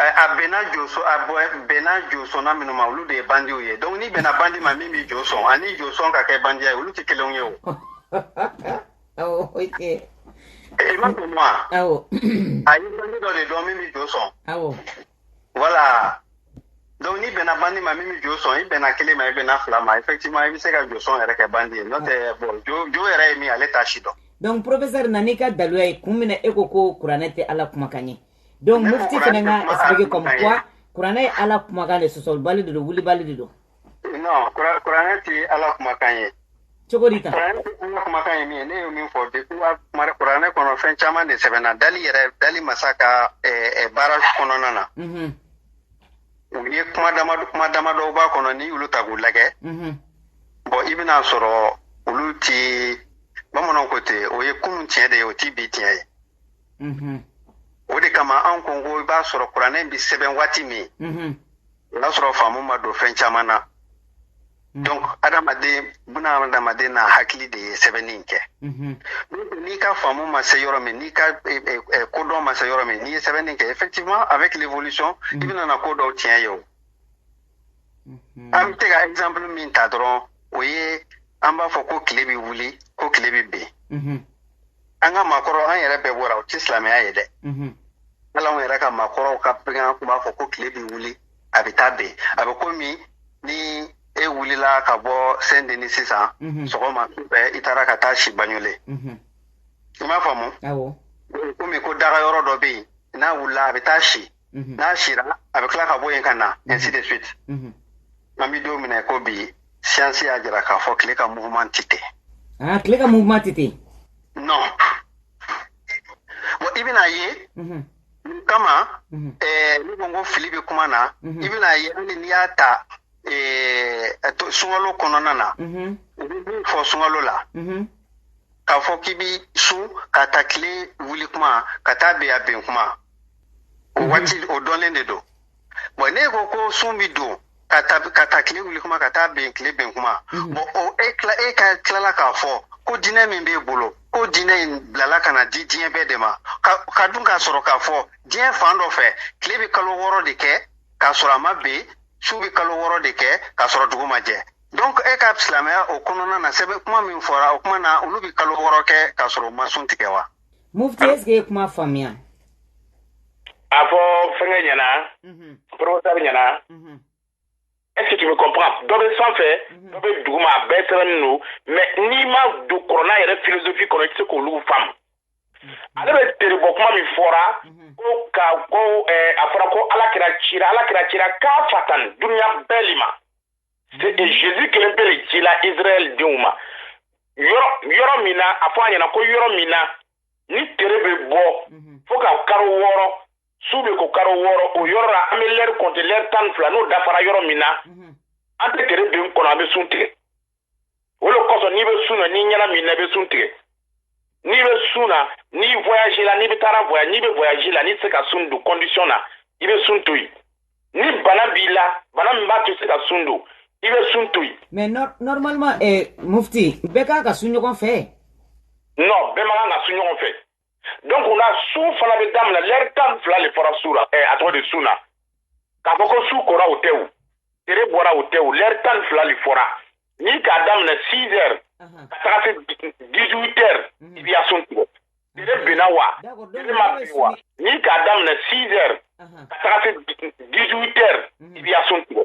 a bɛnna joso a bɛnna josɔnna minnu ma olu de ye bandiw ye donc n'i bɛnna bandi ma min bi jo sɔn ani jo sɔn ka kɛ bandiya ye olu tɛ kelenw ye o awɔ o tɛ i m'a faamu wa awɔ a ye bandi dɔ de dɔn min bi jo sɔn awɔ voilà donc n'i bɛnna bandi ma min bi jo sɔn i bɛnna kelen ma i bɛnna fila ma effectivement i bɛ se ka jo sɔn yɛrɛ kɛ bandi ye n'o tɛ bon jo jo yɛrɛ ye min ye ale t'a si dɔn donc professeur na n'i ka daluya ye kun min na e ko ko kuranɛ tɛ ala kumakan ye donc mufti fana ka expliquer comme quoi kuranɛ ye ala kumakan de sɔsɔlibali de don wulibali de don non kuranɛ tɛ ala kumakan ye cogo di tan kuranɛ tɛ ala kumakan ye min ye ne ye min fɔ depuis kuranɛ kɔnɔ fɛn caman de sɛbɛnna dali yɛrɛ dali masa ka baara kɔnɔna na u ye kuma damadɔ kuma damadɔw b'a kɔnɔ n'i y'olu ta k'u lajɛ bon i bɛn'a sɔrɔ olu ti bamananw ko ten o ye kunun tiɲɛ de ye o ti bi tiɲɛ ye o de kama an ko ko i b'a sɔrɔ kuranɛ bɛ sɛbɛn waati min o y'a sɔrɔ faamu ma don fɛn caman na donc adamaden bɛna adamaden n'a hakili de ye sɛbɛnni kɛ n'i ka faamu ma se yɔrɔ min n'i ka kodɔn ma se yɔrɔ min n'i ye sɛbɛnni kɛ effectivement avec l'évolution i bɛna na ko dɔw tiɲɛ ye o an bɛ se ka exemple min ta dɔrɔn o ye an b'a fɔ ko tile bɛ wuli ko tile bɛ bin mhm. an ka maakɔrɔ an yɛrɛ bɛɛ bɔra o tɛ silamɛya ye dɛ mhm. hali anw yɛrɛ ka maakɔrɔw ka fɛngɛ tun b'a fɔ ko tile bɛ wuli a bɛ taa bin a bɛ komi ni e wulila ka bɔ Saint-Denis sisan mhm. sɔgɔma fɛ i taara ka taa si Bagnolet i m'a faamu komi ko dagayɔrɔ dɔ bɛ yen n'a wulila a bɛ taa si mhm. n'a sira a bɛ tila ka bɔ yen ka na mhm. ainsi de suite mhm. an bɛ don min na i ko bi siyansi y'a jira k'a fɔ tile ka mouvement tɛ ten ah, tile ka mouvement tɛ ten non bon i bɛn'a ye kama eh, ne ko n ko fili bɛ kuma na i bɛna ye hali n'i y'a ta eh, sunkalo kɔnɔna na u bɛ min fɔ sunkalo la k'a fɔ k'i bi sun k'a ta tile wuli kuma ka taa bɛn a bin kuma o mhm. waati o dɔnnen de don bon ne ko ko sun bi don ka ta ka ta tile wuli kuma ka taa bɛn tile ben kuma mhm. bon o e kila e ka tilala k'a fɔ ko diinɛ min b'e bolo ko diinɛ in bilala ka na di diɲɛ bɛɛ de ma ka ka dun k'a sɔrɔ k'a fɔ diɲɛ fan dɔ fɛ tile bɛ kalo wɔɔrɔ de kɛ k'a sɔrɔ a ma ben su bɛ kalo wɔɔrɔ de kɛ k'a sɔrɔ dugu ma jɛ donc e ka silamɛya o kɔnɔna na sɛbɛn kuma min fɔra o kuma na olu bɛ kalo wɔɔrɔ kɛ k'a sɔrɔ u ma sun tigɛ wa mufti est ce que ye kuma faamuya a fɔ fɛngɛ ɲɛna professeur ɲɛna est ce que tu me comprends dɔ bɛ sanfɛ dɔ bɛ duguma a bɛɛ sɛbɛnnen don mais n'i ma don kɔrɔna yɛrɛ philosophie kɔnɔ i tɛ se k'olu faamu ale bɛ tere bɔ kuma min fɔra ko ka ko a fɔra ko ala kira cira ala kira cira kafatan duniya bɛɛ le ma Jésus kelen pe de cila Israël denw ma. Yɔrɔ yɔrɔ min na a fɔ a ɲɛna ko yɔrɔ min na ni tere bɛ bɔ mhm. fo ka karo wɔɔrɔ su bɛ ko karo wɔɔrɔ o yɔrɔ la an bɛ lɛri kɔnte lɛri tan ni fila n'o dafara yɔrɔ min na mhm. an tɛ tere ben kɔnɔ an bɛ sun tigɛ. o de kosɔn n'i bɛ sun na n'i ɲɛnaminina i bɛ sun tigɛ n'i bɛ sun na n'i voyage la n'i bɛ taara voyage n'i bɛ voyage la n'i tɛ se ka sun don condition na i bɛ sun to yen ni bana b'i la bana min b'a to i se ka sun don i bɛ sun to yen. mais normalement eh, mufti bɛɛ kan ka sun ɲɔgɔn fɛ. non bɛɛ man kan ka sun ɲɔgɔn fɛ. donc o la sun fana bɛ daminɛ lɛri tan fila de fɔra su la eh, a tɔgɔ di sun na k'a fɔ ko su kora o tɛ o tere bɔra o tɛ o lɛri tan fila de fɔra n'i k'a daminɛ six heures ka taga se dix huit heures mhm. i b'i ka sun tigɛ tere binna wa tere ma bin wa n'i k'a daminɛ six heures ka taga se dix huit heures i b'i ka sun tigɛ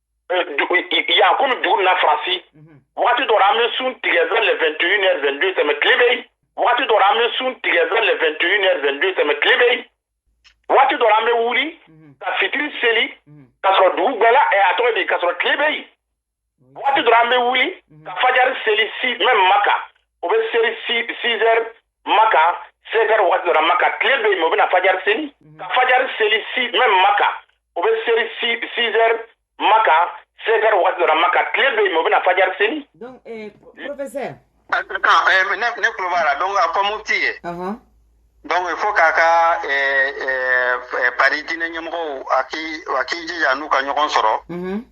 yan komi dugu na faransi mhm. waati dɔra an bɛ sun tigɛ vers le 21 heures 22 tɛmɛ tile bɛ yen waati dɔra an bɛ sun tigɛ vers le 21 heures 22 tɛmɛ tile bɛ yen waati dɔra an bɛ wuli mhm. ka fitiri seli mhm. ka sɔrɔ dugu bɛɛ la a tɔgɔ di ka sɔrɔ tile bɛ yen waati dɔra an bɛ wuli ka fajari seli si même maka o bɛ seli 6 heures maka cinq heures waati dɔra maka tile bɛ yen o bɛna fajari seli mhm. ka fajari seli si même maka o bɛ seli six heures maka cinq heures waati dɔra maka tile bɛ yen o bɛna fajari seli. donc eh, professeur. Ah, eh, ne ne tulo b'a la donc a fɔ mufti ye. donc il faut k'a ka eh, eh, eh, Paris diinɛ ɲɛmɔgɔw a k'i a k'i jija anw ka ɲɔgɔn sɔrɔ. Mm -hmm.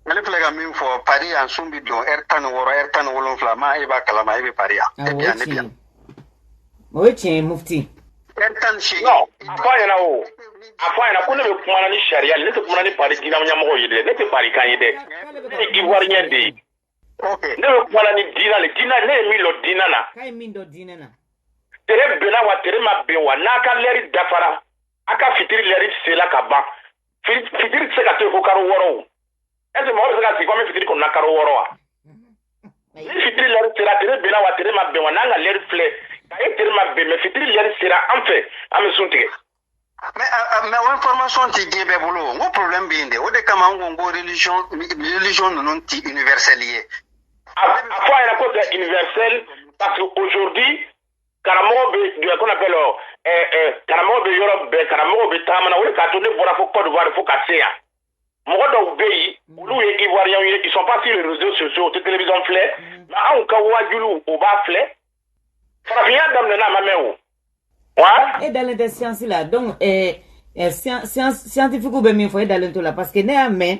Ale filɛ ka min fɔ Paris yan sun bɛ don ɛri tan ni wɔɔrɔ ɛri tan ni wolonfila ma e b'a kalama e bɛ Paris yan e bɛ yan ne bɛ yan o ye tiɲɛ ye mufti ɛri tan ni seegin a fɔ a ɲɛna o a fɔ a ɲɛna ko ne bɛ kuma ni sariya le ne tɛ kuma ni Paris diina ɲɛmɔgɔ ye dɛ ne tɛ Paris kan ye dɛ ne ye ivoirien de ye ne bɛ kuma ni diina de diina ne ye min dɔn diina na k'a ye min dɔn diina na tere bɛnna wa tere ma bɛn wa n'a ka lɛri dafara a ka fitiri lɛri sela ka ban fitiri tɛ se ka to ko karo wɔɔrɔ o est-ce mɔgɔ bɛ se ka sigi ko an bɛ fitiri kɔnɔna karo wɔɔrɔ wa ni fitiri lɛri sera tere bɛnna wa tere ma bɛn wa n'an ka lɛri filɛ ka e tere ma bɛn mais fitiri lɛri sera an fɛ an bɛ sun tigɛ. mais mais o information tɛ diɲɛ bɛɛ bolo n ko problème bɛ yen dɛ o de kama n ko n ko religion religion ninnu tɛ universelle ye. a fɔ a ɲɛna ko c'est universel parce que aujourd'hui karamɔgɔ bɛ duɲɛ kɔnɔ bɛɛ la karamɔgɔ bɛ yɔrɔ bɛɛ karamɔgɔ bɛ taamana o de k'a to ne bɔra fo Côte d'Ivoire fo ka se yan mɔgɔ dɔw bɛ yen olu ye ivoiriens ye ils sont pas sur les réseaux sociaux u tɛ télévision filɛ mais anw ka waajuliw o b'a filɛ farafinya daminɛna a ma mɛn o wa. e dalen tɛ siyansi la donc ɛɛ siyantifikuw bɛ min fɔ e dalen t'o la parce que ne y'a mɛn.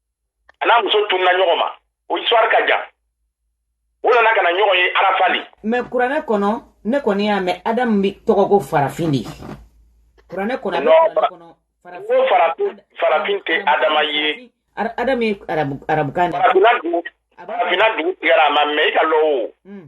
a n'a muso tununa ɲɔgɔn ma o histoire ka jan u nana ka na ɲɔgɔn ye arafa le mais kuranɛ kɔnɔ ne kɔni y'a mɛn adamu bɛ tɔgɔ ko farafin de ye kuranɛ kɔnɔ ko farafin tɛ adama ye adamu ye arabukan de farafina dugu tigɛra a ma mɛn i k'a lɔn o hmm.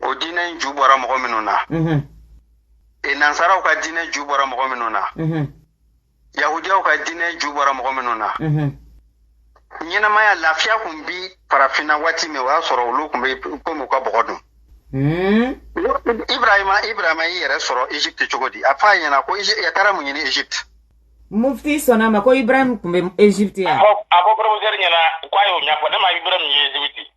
o diina ju bɔra mɔgɔ minnu na e nansaraw ka diina ju bɔra mɔgɔ minnu na yahudiyaw ka diina ju bɔra mɔgɔ minnu na ɲɛnamaya lafiya kun bi farafinna waati min o y'a sɔrɔ olu kun bɛ komi u ka bɔgɔ dun Hmm? ibrahima ibrahima y'i yɛrɛ sɔrɔ egypte cogo di a f'a ɲɛna ko a taara mun ɲini egypte mufti sɔnna a ma ko ibrahim kun bɛ egypte yan a fɔ professeur ɲɛna k'a y'o ɲɛfɔ ne ma ibrahim ye egypte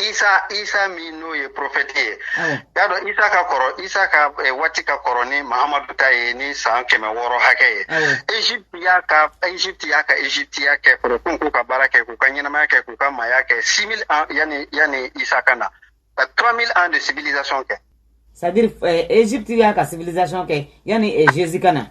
isa isa min n'o ye porofɛti ye y'a dɔn isa ka kɔrɔ isa ka eh, waati ka kɔrɔ ni muhamadu ta ye ni san kɛmɛ wɔɔrɔ hakɛ ye egypte y'a ka egypte y'a ka egyptiya kɛ foroton k'u ka baara kɛ k'u ka ɲɛnamaya kɛ k'u ka maaya kɛ six mille ans yanni yanni isa ka na ka trois mille ans de civilisation kɛ c'est à dire eh, egypte y'a ka civilisation kɛ yanni eh, jésus ka na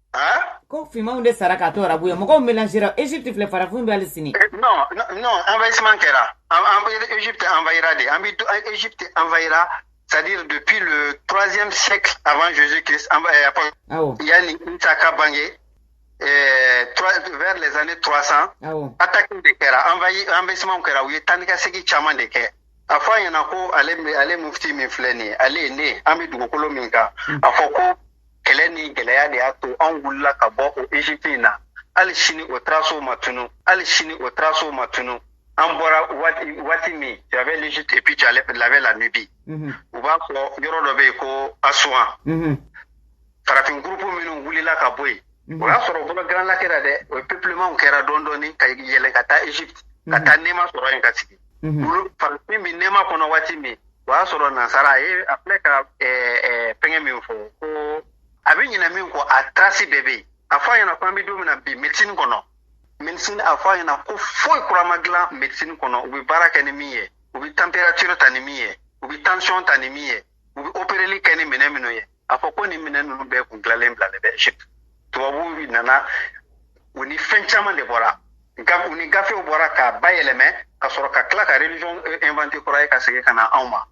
ko finmanw de sara k'a to arabu ye mɔgɔw mélanger Egypte filɛ farafinw bɛ hali sini non non envahissement kɛra Egypte envahira de an bɛ Egypte envahira c'est-à-dire depuis le troisième siècle avant Jésus-Christ yanni Isa ka bange vers les années 300 attaque de kɛra envahissement kɛra u ye taa ni ka segin caman de kɛ a fɔ a ɲɛna ko ale mufti min filɛ nin ye ale ni ne an bɛ dugukolo min kan a fɔ ko kɛlɛ ni gɛlɛya de y'a to anw wulila ka bɔ o egypte in na hali sini o taraso ma tunu hali sini o taraso ma tunu an bɔra waati min y avait l'egypte et puis y avait la nubie mhm. u b'a fɔ yɔrɔ dɔ bɛ yen ko asuwan mhm. farafin gurupu minnu wulila ka bɔ yen mhm. o y'a sɔrɔ o bɔra grand lac ra dɛ o peuplementw kɛra dɔɔni dɔɔni ka yɛlɛn ka taa egypte ka taa nɛɛma sɔrɔ yen ka sigi olu farafin min nɛɛma kɔnɔ waati min o y'a sɔrɔ nansara a ye a filɛ ka fɛngɛ min fɔ ko a bɛ ɲinɛ min kɔ a trace bɛɛ bɛ yen a fɔ a ɲɛna ko an bɛ don min na bi médecine kɔnɔ médecine a fɔ a ɲɛna ko foyi kura ma dilan médecine kɔnɔ u bɛ baara kɛ ni min ye u bɛ temperature ta ni min ye u bɛ tension ta ni min ye u bɛ opereli kɛ ni minɛn minnu ye a fɔ ko nin minɛn ninnu bɛɛ kun dilanlen bilalen bɛ egypte tubabuw nana u ni fɛn caman de bɔra u ni gafew bɔra k'a bayɛlɛmɛ ka sɔrɔ ka tila ka religion eh, inventer kura ye ka segin ka na anw ma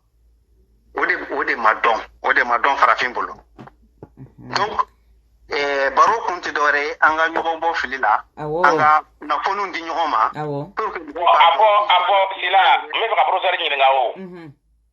o de o de ma dɔn o de ma dɔn farafin bolo mhm. donc eh, baro kun tɛ dɔwɛrɛ ye an ka ɲɔgɔn bɔ fili la an ka kunnafoniw di ɲɔgɔn ma pour que mɔgɔw ka a bɔ a bɔ sila n bɛ fɛ ka professeur ɲininka o mhm.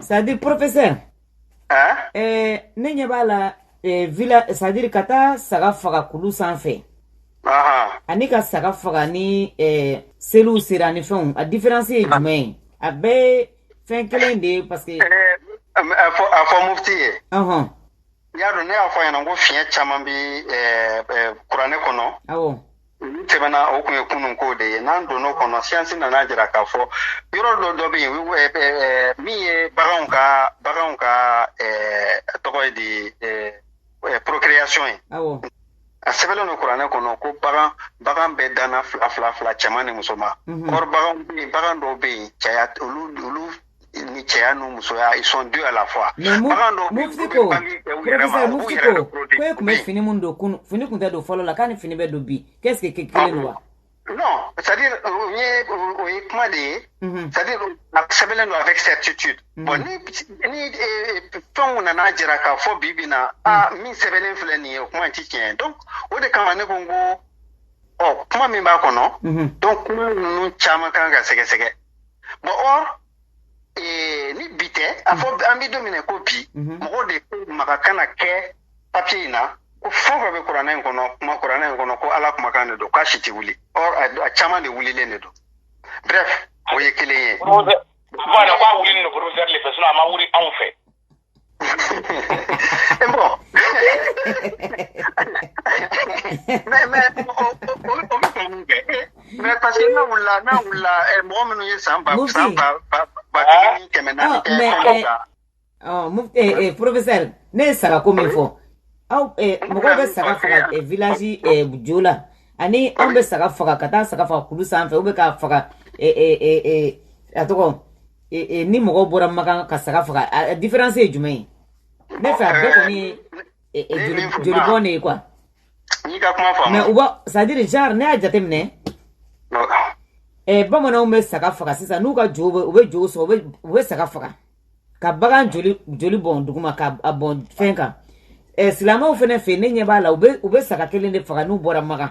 c'est à dire professeur ne ɲɛ b'a la voilà c'est à dire ka taa saga faga kulu sanfɛ ani ka saga faga ni seliw sera ni fɛnw a différence ye jumɛn ye a bɛɛ fɛn kelen de ye parce que a fɔ mufti ye y'a dɔn ne y'a fɔ a ɲɛna ko fiyɛn caman bɛ kuranɛ kɔnɔ olu tɛmɛna o tun ye kunun ko de ye n'an donn'o kɔnɔ science nana jira k'a fɔ yɔrɔ dɔ dɔ bɛ yen min ye baganw ka baganw ka tɔgɔ ye di procréation ye a sɛbɛnlen don kuranɛ kɔnɔ ko bagan bagan bɛɛ danna fila fila fila cɛman ni musoman or bagan bɛ yen bagan dɔw bɛ yen cɛya olu olu ni cɛya n'u musoya ils sont deux à la fois mais mu bagan dɔw bɛ yen, mufti olu ko bɛ bange kɛ u yɛrɛ ma, professeur u b'u mufti yɛrɛ ko de protéger. ko e tun bɛ Oui. fini minnu don kunu fini tun tɛ don fɔlɔ la k'a ni fini bɛ don bi qu'est ce que ke- kelen don wa non c'est à dire o ye o ye kuma de ye Mhm. c'est à dire a sɛbɛnlen don avec certitude bon ni ni eh, fɛnw nana jira k'a fɔ bi bi na a min sɛbɛnlen filɛ nin ye o kuma in ti tiɲɛ ye donc o de kama ne ko n ko ɔ kuma min b'a kɔnɔ Mhm. donc kuma ninnu caman kan ka sɛgɛsɛgɛ bon or eh, ni bi tɛ a fɔ an bɛ don min na ko bi mhm. mɔgɔw de ko maga kana kɛ papier in na ko fɛn fɛn bɛ kuranɛ in kɔnɔ kuma kuranɛ in kɔnɔ ko ala kumakan de don k'a si tɛ wuli or a caman de wulilen de don bref o ye kelen ye. voilà k'a wulinin le professeur le fɛ sinon a ma wuli anw fɛ. ɛ bon. mais, mais, mais parce que n'a wulila n'a wulila ɛ mɔgɔ minnu ye san ba san ba ba ba kelen ni kɛmɛ naani kɛ kɔnɔ kan. ɔ mu ɛ ɛ professeur ne ye sagako min fɔ aw ɛ mɔgɔw bɛ saga faga ɛ village ɛ jo la ani anw bɛ saga faga ka taa saga faga kulu sanfɛ ou bien k'a faga ɛ ɛ ɛ a tɔgɔ. e, e, ni mɔgɔw bɔra makan ka saga faga a différence ye jumɛn ye ne fɛ a bɛɛ kɔni ye e, e, joli joli bɔn de ye quoi n'i ka kuma faamu mais u b'a c'est à dire genre ne y'a jateminɛ eh, bamananw bɛ saga faga sisan n'u ka jo u bɛ jo sɔn u bɛ saga faga ka bagan joli joli bɔn duguma ka a bɔn fɛn kan eh, silamɛw fana fɛ ne ɲɛ b'a la u bɛ u bɛ saga kelen de faga n'u bɔra makan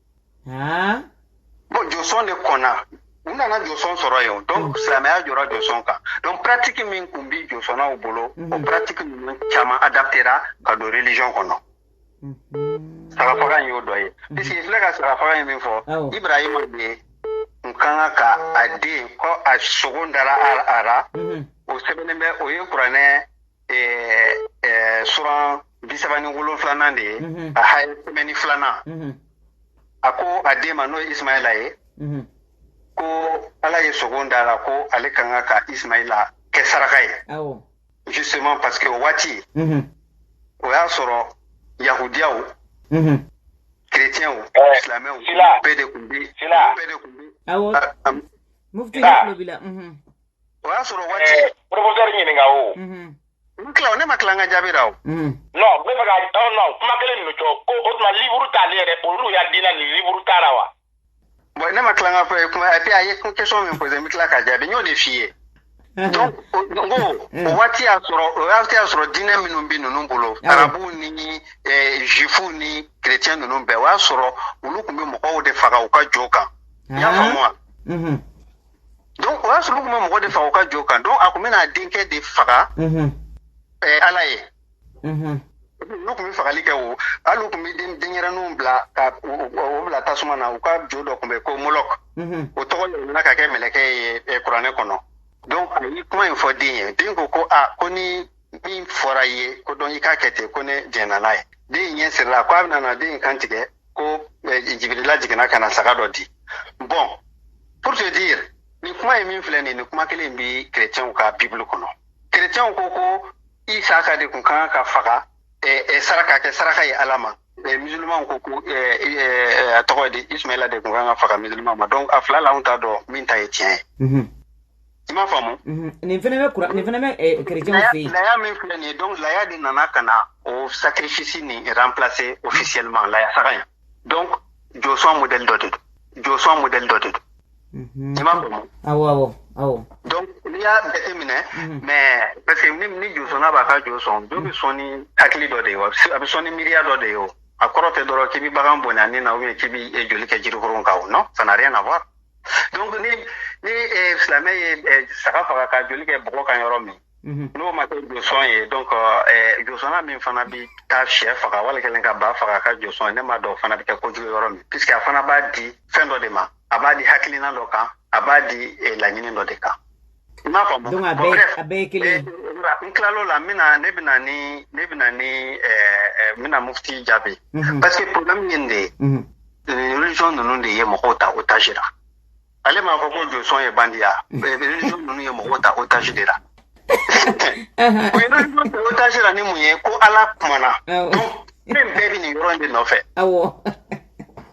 aa bon josɔn de kɔnna u nana josɔn sɔrɔ yen donc silamɛya jɔra josɔn kan donc pratique min kun bi josɔnnaw bolo o pratique ninnu caman adaptera ka don religion kɔnɔ sagafaga in y'o dɔ ye puisque i filɛ ka sagafaga in min fɔ ibrahima de n ka kan ka a den ko a sogo dara a ra o sɛbɛnnen bɛ o ye kuranɛ ɛɛ suran bi saba ni wolonfilanan de ye a haya kɛmɛ ni filanan a ko a den ma n'o ye ismaila ye ko ala ye sogo d'a la ko ale kan ka ka ismaila kɛ saraka ye justement parce que o waati o y'a sɔrɔ yahudiyaw chrétiens silamɛw bɛɛ de tun bɛ bɛɛ de tun bɛ mufti de tulo b'i la o y'a sɔrɔ waati ɛɛ professeur ɲininka o Mhm. n tila o ne ma tila n ka jaabi la o Mhm. non n bɛ fɛ ka ɔ non kuma kelen ninnu cɔ ko o tuma livuru t'ale yɛrɛ olu ya diina nin livuru t'a la wa bon ne ma tila n ka fɔ kuma et puis a ye question min posé n bɛ tila ka jaabi n y'o de f'i ye donc o- n ko o waati y'a sɔrɔ o waati y'a sɔrɔ diinɛ minnu bɛ ninnu bolo Awɔ. arabuw ni eh, juifuw ni chrétien ninnu bɛɛ o y'a sɔrɔ olu tun bɛ mɔgɔw de faga u ka jo kan i y'a Ah. faamu wa Mhm. donc o y'a sɔrɔ u tun bɛ mɔgɔ de faga u ka jo kan donc a tun bɛna a denkɛ de faga ɛɛ ala ye n'u tun bɛ fagali kɛ o hali u tun bɛ denyɛrɛninw bila ka o bila tasuma na u ka jo dɔ tun bɛ ko molɔk o tɔgɔ yɛlɛmana ka kɛ mɛlɛkɛ ye kuranɛ kɔnɔ donc a ye kuma in fɔ den ye den ko ko a ko ni min fɔra i ye ko donc i k'a kɛ ten ko ne jɛnna n'a ye den ɲɛ sirila ko a bɛna na den in kan tigɛ ko eh, jibirila jiginna ka na saga dɔ di bon pour te dire nin kuma ye min filɛ nin nin kuma kelen bi chrétienw ka bible kɔnɔ chrétienw ko ko isaka de kun kan ka faga eh, eh, saraka kɛ saraka ye ala ma eh, musulmanw ko ko eh, eh, a tɔgɔ di ismaila de kun kan ka faga musulman ma donc a fila la anw t'a dɔn min ta ye tiɲɛ ye mm -hmm. I m'a faamu nin fana bɛ kuran nin fana bɛ chrétienw fɛ yen laya min filɛ nin ye donc laya de nana ka na o sacrifice nin remplacer officiellement laya saga in donc josɔn modèle dɔ de don josɔn modèle dɔ de don i m'a faamu awɔ awɔ awɔ donc n'i y'a jateminɛ mais parce que ni ni josɔnna b'a ka jo sɔn jo bɛ sɔn ni hakili dɔ de ye wa a bɛ sɔn ni miiriya dɔ de ye o a kɔrɔ tɛ dɔrɔn k'i bɛ bagan bɔnɛ a ni na ou bien k'i bɛ joli kɛ jirikuru kan o non ça n'a rien à voir donc ni ni eh, silamɛ ye eh, saga faga ka joli kɛ bɔgɔ kan yɔrɔ min mhm. n'o ma kɛ josɔn ye donc eh, josɔnna min fana bi taa shɛ faga wala kelen ka ba faga ka jo sɔn ne m'a dɔn fana bɛ kɛ kojugu yɔrɔ min puisque a fana b'a di fɛn dɔ de ma a b'a di hakilina dɔ kan a b'a di laɲini dɔ de kan i m'a faamu donc a bɛɛ bref, a bɛɛ ye kelen ye eh, n tilal'o la n bɛna ne bɛna ni ne bɛna ni eh, eh, n bɛna mufti jaabi Mhm. parce que problème ye nin de ye Mhm. nin religion ninnu de ye mɔgɔw ta otage la ale m'a fɔ ko josɔn ye bandiya Eh, religion ninnu ye mɔgɔw ta otage de la Aha. u ye religion ta otage la ni mun ye ko ala kumana Awɔ. donc fɛn bɛɛ bɛ nin yɔrɔ in de nɔfɛ awɔ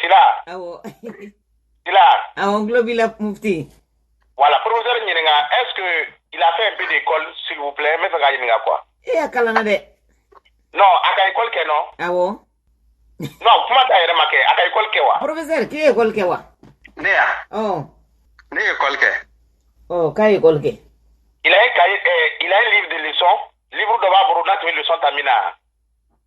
sila awɔ sila awɔ n tulo b'i la mufti voilà professeur ɲininka est ce que il a fait un peu d'école s'il vous plaît n bɛ fɛ k'a ɲininka quoi e a kalanna dɛ non a ka école kɛ non awɔ non kuma d'a yɛrɛ ma kɛ a ka école kɛ wa professeur k'e ye école kɛ wa ne wa ɔ ne ye école kɛ ɔ k'a ye école kɛ il a un cahier euh, il a un livre de leçon livre dɔ b'a bolo n'a tun bɛ leçon ta min na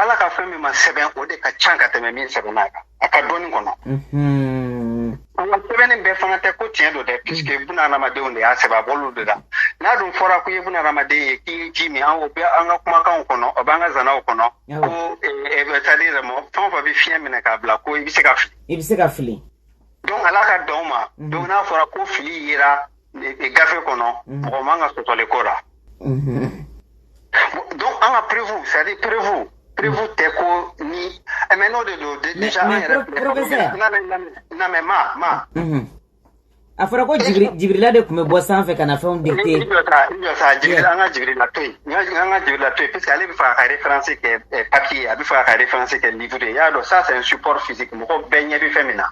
ala ka fɛn min ma sɛbɛn o de ka ca ka tɛmɛ min sɛbɛnna kan a ka dɔnni kɔnɔ mhm. an ka sɛbɛnni bɛɛ fana tɛ ko tiɲɛ don dɛ puisque mhm. buna adamadenw de y'a sɛbɛn a bɔr'olu de la n'a dun fɔra ko i ye buna adamaden ye k'i ye ji min an o bɛ an ka kumakanw kɔnɔ o b'an ka zanaw kɔnɔ ko c'est à dire mɔgɔ fɛn o fɛn bɛ fiɲɛ minɛ k'a bila ko i bɛ se ka fili i bɛ se ka fili donc ala ka dan o ma donc n'a fɔra ko fili yera gafe kɔnɔ mhm. mɔgɔ man ka sɔsɔli k'o la mhm. donc an ka preuve c'est à dire preuve preuve mhm. tɛ ko ni eh, mais n'o de don déjà an yɛrɛ professeur na mais ma ma a fɔra ko jibirila de tun bɛ bɔ sanfɛ ka na fɛnw dicter i jɔ sa i jɔ sa jibirila an ka jibirila to yen an ka jibirila to yen parce que ale bɛ fɛ a ka référence kɛ eh, papier a bɛ fɛ a ka référence kɛ livre ye i y'a dɔn ça c'est un support physique mɔgɔ bɛɛ ɲɛ bɛ fɛn min na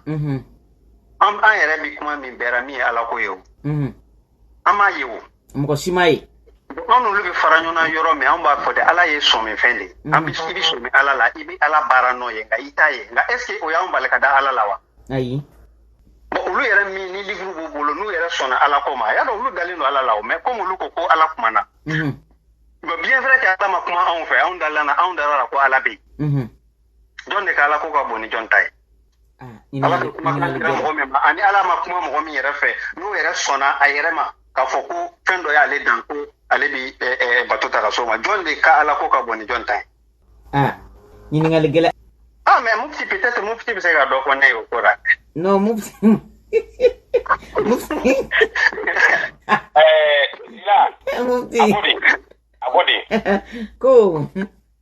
an an yɛrɛ bɛ kuma min bɛɛ ra min ye ala ko ye o mhm. an m'a ye o mɔgɔ si m'a ye an n'olu bɛ fara ɲɔgɔn na yɔrɔ min an b'a fɔ de ala ye sɔminfɛn de ye mhm. an bɛ i bɛ sɔmi ala la i bɛ ala baara nɔ ye nka i t'a ye nka est ce que o y'an bali ka da ala la wa ayi bon olu yɛrɛ min ni livre b'u bolo n'u yɛrɛ sɔnna ala ko ma y'a dɔn olu dalen don ala la o mais comme olu ko ko ala kumana mhm. bien vrai que ala ma kuma anw fɛ anw dalana anw dar'a la ko ala bɛ yen jɔn de ka ala ko ka bon ni jɔn ta ye ala bɛ kuma kan jira mɔgɔ min ma ani ala ma kuma mɔgɔ min yɛrɛ fɛ n'o yɛrɛ sɔnna a yɛrɛ ma k'a fɔ ko fɛn dɔ y'ale dan ko ale bɛ bato ta ka so ma jɔn de ka ala ko ka bon ni jɔn ta ye ɲininkali gɛlɛn ah mais mufti peut-être mufti bɛ se ka dɔ fɔ ne ye o ko la non mufti mufti ɛɛ sila mufti a ko de a ko de ko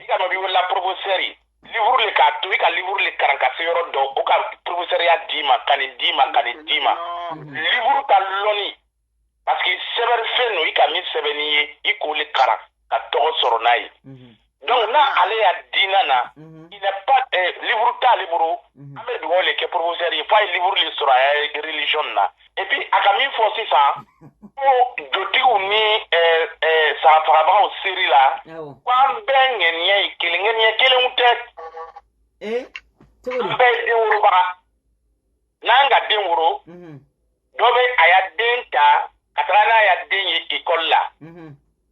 i ka dɔ b'i wele la professeur livre le k'a to i ka livre le karan ka se yɔrɔ dɔ o ka professeuria d'i ma ka nin d'i ma ka nin d'i ma livre ka lɔnni parce que sɛbɛnni fɛn no i ka min sɛbɛnni ye i k'o le karan ka tɔgɔ sɔrɔ n'a ye donc là ale ya diina na il n'est pas eh, livre t'ale bolo an bɛ dugawu le kɛ professeur ye f'a ye livre le sɔrɔ a ya religion na epi a ka min fɔ sisan ko jotigiw ni sagafagabagaw seri la ko an bɛɛ ŋɛniya ye kelen ŋɛniya kelenw tɛ an bɛɛ ye den worobaga n'an ka den woro dɔ bɛ a ya den ta ka taga n'a ya den ye ekɔli la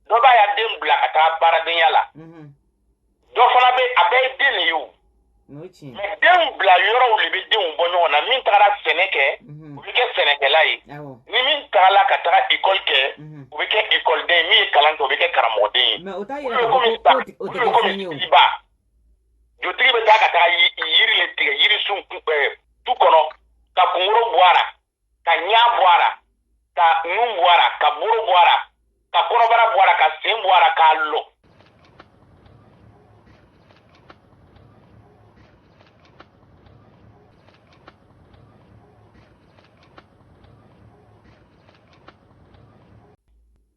dɔ b'a ya den bila ka taa baaradenya la mhm. dɔ fana bɛ a bɛɛ ye den de ye o mais denw bila yɔrɔw de bɛ denw bɔ ɲɔgɔn na min tagara sɛnɛ kɛ mhm. u bɛ kɛ sɛnɛkɛla ye ni min tagala ka taga ikɔli kɛ mhm. u bɛ kɛ ikɔliden ye min ye kalan kɛ u bɛ kɛ karamɔgɔden ye o ye komi siba jotigi bɛ taa ka taga yiri de tigɛ yirisun tu kɔnɔ ka kunkoro bɔ a la ka ɲa bɔ a la ka nun bɔ a la ka boro bɔ a la ka kɔrɔbara bɔ a la ka sen bɔ a la k'a lɔ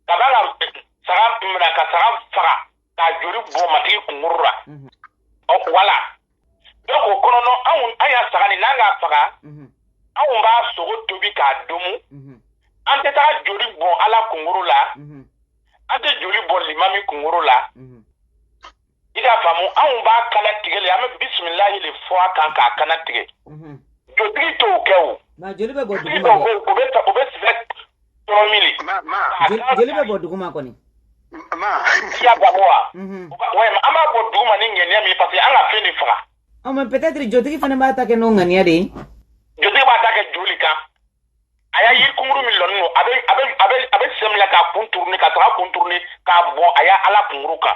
ka da la saga minɛ ka saga faga ka joli bɔn matigi kunkuru la mhm. ɔ voilà donc o kɔnɔnɔ anw an ya saga nin n'an k'a faga mhm. anw b'a sogo tobi k'a domu mhm. an tɛ taa joli bɔn ala kunkuru la an tɛ joli bɔn limami kunkuru la i t'a faamu anw b'a kana tigɛ le an bɛ bisimilahi le fɔ a kan k'a kana tigɛ jotigi t'o kɛ o jotigi dɔw bɛ yen o bɛ sɛbɛ trois mille joli bɛ bɔn duguma kɔni siya babo wa walima an b'a bɔn duguma ni ŋaniya min parce que an ka fɛn de faga ɔ mais peut être jotigi fana b'a ta kɛ n'o ŋaniya de ye jotigi b'a ta kɛ joli kan a ya yiri kunkuru min lɔnin don a bɛ a bɛ a bɛ a bɛ sɛmila ka contourner ka taga contourner k'a bɔn a ya ala kunkuru kan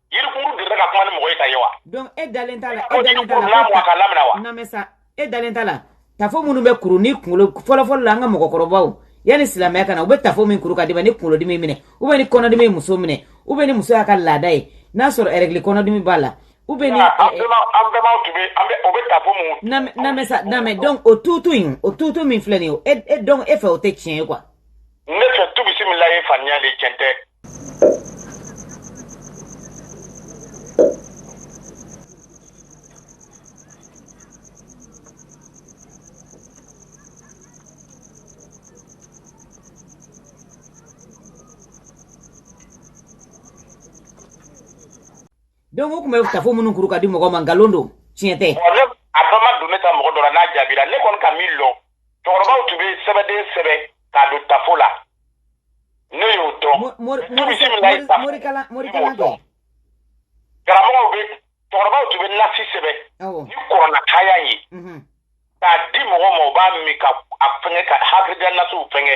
Yirikuru de ka kuma ni mɔgɔ ta ye wa donc e dalen t'a la e dalen lamɛn sa e dalen t'a la tafo minnu bɛ kuru ni kunkolo fɔlɔfɔlɔ la an ka mɔgɔkɔrɔbaw yanni silamɛya ka na u bɛ tafo min kuru ka di ni kunkolodimi minɛ u bɛ ni kɔnɔdimi muso minɛ u bɛ ni muso y'a ka laada ye n'a sɔrɔ règles kɔnɔdimi b'a la u bɛ o tutu in o tutu min filɛ nin o e donc e fɛ o tɛ tiɲɛ ye quoi ne fɛ tu bisimila ye faniya de tiɲɛ tɛ donc o tun bɛ tafo minnu kuru ka di mɔgɔ ma nkalon don tiɲɛ tɛ a bɛɛ ma don ne ta mɔgɔ dɔ la n'a jaabira ne kɔni ka min lɔn cɛkɔrɔbaw tun bɛ sɛbɛden sɛbɛn k'a don tafo la ne y'o dɔn karamɔgɔw bɛ cɛkɔrɔbaw tun bɛ nasi sɛbɛn ni kurana haya ye k'a di mɔgɔ ma u b'a min ka a fɛngɛ ka hakilidiya nasiw fɛngɛ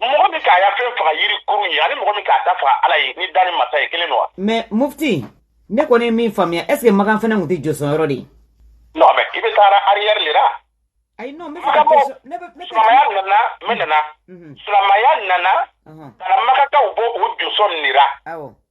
mɔgɔ min k'a ya fɛn faga yiri kurun ye ani mɔgɔ min k'a ta faga ala ye ni danni masa ye kelen don wa mais mufti ne kɔni ye min faamuya est ce que makan fana tun tɛ josɔn yɔrɔ de ye non mais i bɛ taara arrière le la ayi non ne ka question ne bɛ ne silamaya nana mɛ nana silamaya nana ka na makakaw bɔ o josɔnni ra awɔ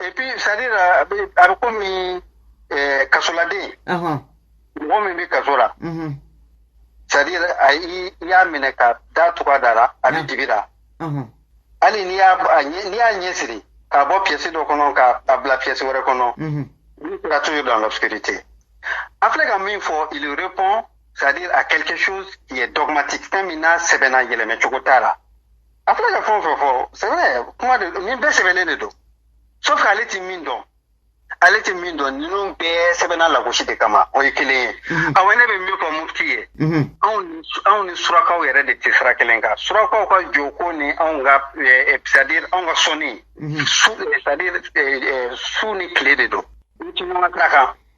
et puis c'est à dire a bɛ a bɛ komi ɛɛ eh, kasoladen. Ɔhɔn. mɔgɔ min bɛ kaso la. Mhm. c'est à dire a i y'a minɛ ka da tugu a da la a bɛ dibi ra. hali n'i y'a n'i y'a ɲɛ siri k'a bɔ pièce dɔ kɔnɔ ka a bila pièce wɛrɛ kɔnɔ. Mhm. il sera toujours dans l'obscurité. an filɛ ka min fɔ il répond c'est à dire à quelque chose qui est dogmatique fɛn min n'a sɛbɛnna yɛlɛmɛ cogo t'a la. a filɛ ka fɛn o fɛn fɔ c'est vrai kuma de nin bɛɛ sɛbɛnnen de don sauf que ale ti min dɔn ale ti min dɔn ninnu bɛɛ sɛbɛnna lagosi de kama o ye kelen ye mhm. awɔ ne bɛ min fɔ mufti ye mhm. anw ni surakaw yɛrɛ de tɛ sira kelen kan surakaw ka joko ni anw ka c'est à dire anw ka sɔnni mhm. su c'est à dire su ni tile de don u tɛ ɲɔgɔn sira kan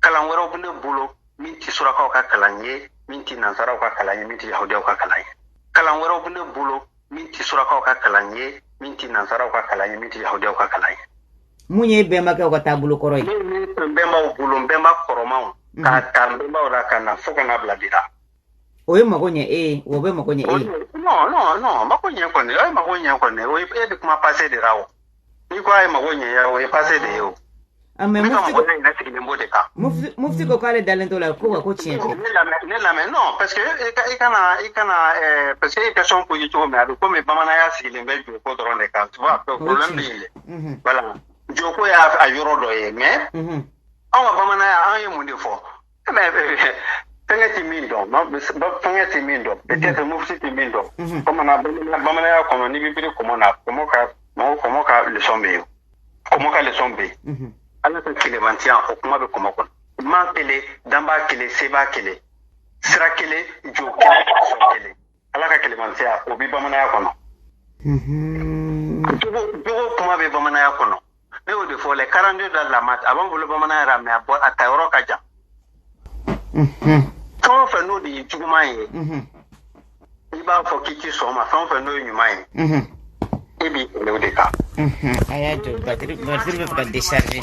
kalan wɛrɛw bɛ ne bolo min tɛ surakaw ka kalan ye min tɛ nansaraw ka kalan ye min tɛ yahudiyaw ka kalan ye kalan wɛrɛw bɛ ne bolo min tɛ surakaw ka kalan ye min tɛ nansaraw ka kalan ye min tɛ yahudiyaw ka kalan ye min ye bɛnbakɛw ka taabolo kɔrɔ ye min tun bɛnbaw bolo n bɛnba kɔrɔmaw mhm. k'a ta n bɛnbaw la ka na fo ka na bila bi la o ye mago ɲɛ e ye o bɛ mago ɲɛ e ye non non non mago ɲɛ kɔni o ye mago ɲɛ kɔni o ye e bɛ kuma passé de la o n'i ko a ye mago ɲɛ o ye passé de ye o ah, ne ka mɔgɔ ne yɛrɛ sigilen b'o de kan mufti ko k'ale dalen t'o la ko wa ko tiɲɛ tɛ ne lamɛn non parce que i kana i kana eh, parce que e ye question posé cogo min a bɛ komi bamananya sigilen bɛ joko dɔrɔn de kan tu vois problème bɛ yen dɛ voilà joko y'a yɔrɔ dɔ ye mais anw ka bamananya an ye mun de fɔ fɛnkɛ tɛ min dɔn fɛnkɛ tɛ min dɔn peut-être mufti tɛ min dɔn bamanan bamananya kɔnɔ n'i bɛ biri kɔmɔ na kɔmɔ ka mɔgɔ kɔmɔ ka leçon bɛ yen kɔmɔ ka leçon bɛ yen ala ka kelenmantiya o kuma bɛ kɔmɔ kɔnɔ maa kelen danba kelen seba kelen sira kelen jo kelen sɔn kelen ala ka kelenmantiya o bɛ bamananya kɔnɔ jogo kuma bɛ bamananya kɔnɔ ne y'o de fɔ les quarante-deux de la Maât a b'an bolo bamananya ra mais a bɔ a ta yɔrɔ ka jan fɛn o fɛn n'o de ye juguman ye i b'a fɔ k'i ti sɔn o ma fɛn o fɛn n'o ye ɲuman ye e b'i kɛlɛ o de kan a y'a jɔ batiri batiri bɛ ka décharger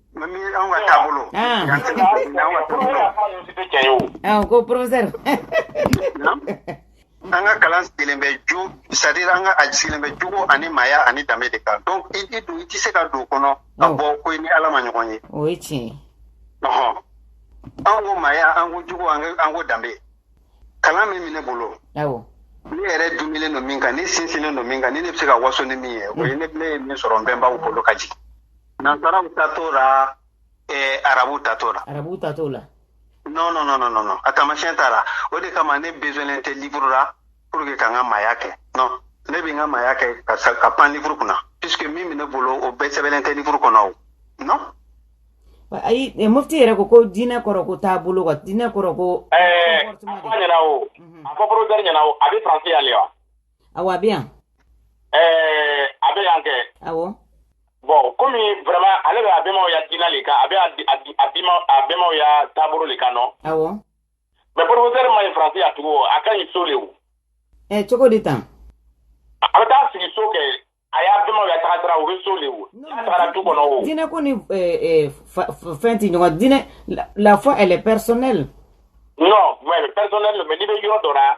Mais min anw ka taabolo Aa. yan tɛ anw ka taabolo Aa, ko professeur. an ka kalan sigilen bɛ ju c'est-à-dire an ka a sigilen bɛ jogo ani maaya ani danbe de kan donc i i don i tɛ se ka don o kɔnɔ ka Awɔ. bɔ ko i ni ala ma ɲɔgɔn ye o ye tiɲɛ ye. ɔhɔn an ko maaya an ko jogo an ko- an ko danbe kalan min bɛ ne bolo Awɔ. ne yɛrɛ dumilen don min kan ne sinsinnen don min kan ni ne bɛ se ka waso ni min ye o ye ne ne ye min sɔrɔ n bɛnbaw bolo ka jigin Nansaraw ta t'o la arabu ta t'o la arabu ta t'o la non non non a taamasiyɛn t'a la o de kama ne besoinnen tɛ liburu la pour que ka n ka maaya kɛ ne bɛ n ka maaya kɛ ka ka pan liburu kunna puisque min bɛ ne bolo o bɛɛ sɛbɛnnen tɛ liburu kɔnɔ o non ayi mufti yɛrɛ ko ko diinɛ kɔrɔ ko t'a bolo quoi diinɛ kɔrɔ ko ɲɛna o a bɛ ɲɛna a bɛ faransi yan wa awɔ a bɛ yan ɛɛ a bɛ yan kɛ awɔ bon komi vraiment ale bɛ a bɛmaw ya diina de kan a bɛ a bɛmaw ya taabolo de kan non awɔ mais professeur man ɲi faransi yan tugun a ka ɲi so de o cogo di tan a bɛ taa sigi so kɛ a y'a bɛmaw ya taga sira o bɛ so de wo n'a tagara du kɔnɔ o diinɛ ko ni fɛn tɛ ɲɔgɔn diinɛ la foi elle est personnelle non mais personnelle mais n'i bɛ yɔrɔ dɔ la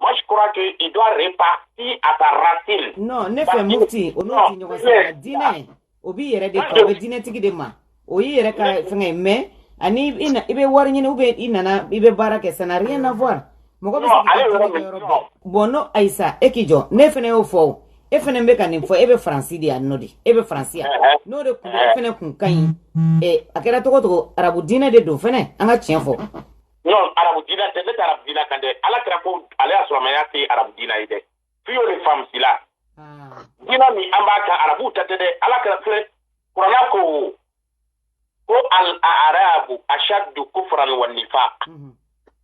Moi, je crois qu'il doit repartir à sa racine. Non, ne fɛ mufti, au nom du Nyogosara, diinɛ, o b'i yɛrɛ de kan, o bɛ diinɛtigi de ma. O y'i yɛrɛ ka fɛngɛ mais ani i bɛ wari ɲini ou bien i nana i bɛ baara kɛ ça n'a rien à voir. Mɔgɔ bɛ se k'i ka diinɛ kɛ yɔrɔ bɛɛ. Bon n'o Ayisa e k'i jɔ, ne fana y'o fɔ o. e fana bɛ ka nin fɔ e bɛ faransi de yan nɔ de e bɛ faransi yan n'o de kun e fana kun ka ɲi a kɛra tɔgɔ tɔgɔ arabu diinɛ de don fana an ka tiɲɛ fɔ non arabu dina tɛ ne tɛ arabu dina kan dɛ ala kira ko alisilamaya tɛ arabu dina ye dɛ fiyo le faamu sila ah. dina min an b'a kan arabuw ta tɛ dɛ ala kira filɛ kurana ko ko al arabu ashaddu kufran wa nifaq mhm.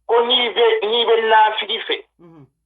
ko n'i bɛ n'i bɛ nafigi fɛ mhm.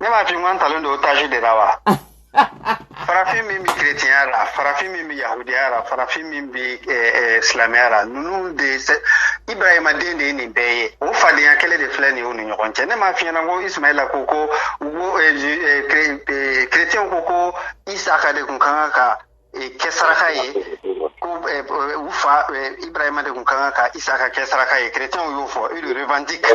ne m'a fɔ an talen don otaji de la wa farafin min bɛ kiretiyɛnya la farafin min bɛ yahudiya la farafin min bɛ eh, eh, silamɛya la ninnu de ibrahima den de ye nin bɛɛ ye o fadenya kɛlɛ de filɛ nin ye u ni ɲɔgɔn cɛ ne m'a f'i ɲɛna ko ismaila ko ko kiretiyɛnw eh, ko ko isaka de kun ka kan ka kɛ saraka ye ko eh, eh, u fa eh, ibrahima de tun ka kan ka isaka kɛ saraka ye kerecɛnw y'o fɔ ils le revendiquent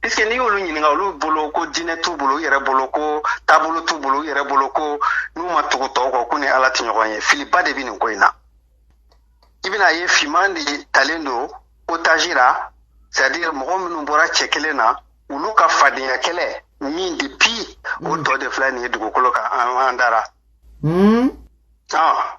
puisque n'i y'olu ɲininka olu bolo ko diinɛ t'u bolo u yɛrɛ bolo ko taabolo t'u bolo u yɛrɛ bolo ko n'u ma tugu tɔw kɔ k'u ni ala tɛ ɲɔgɔn ye filiba de bɛ nin ko in na i bɛna ye finman de talen don otaji la c'est à dire mɔgɔ minnu bɔra cɛ kelen na olu ka fadenya kɛlɛ min depuis o tɔ de filɛ nin ye dugukolo kan an dara hmm? ah.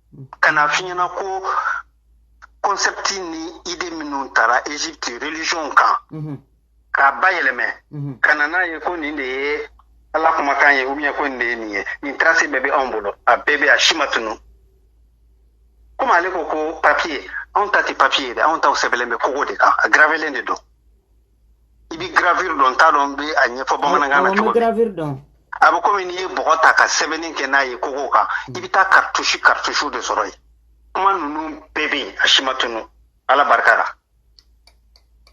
ka na f'i ɲɛna ko kɔnsɛpti ni ide minnu tara Égypte religiyɔn kan mhm. k'a bayɛlɛmɛ mhm. ka na n'a ye ko nin de ye ala kumakan ye ou bien ko nin de ye nin ye nin tarase bɛɛ bɛ anw bolo a bɛɛ bɛ a si ma tunu komi ale ko ko papiye anw ta tɛ papiye ye dɛ anw taw sɛbɛlen bɛ kogo de kan a gravelen de don i bɛ gravure dɔn n t'a dɔn n bɛ a ɲɛfɔ bamanankan na cogo min gravure dɔn a bɛ komi n'i ye bɔgɔ ta ka sɛbɛnni kɛ n'a ye kogo kan i bɛ taa karitusi karitusiw de sɔrɔ yen kuma ninnu bɛɛ bɛ yen a si ma tunu ala barika la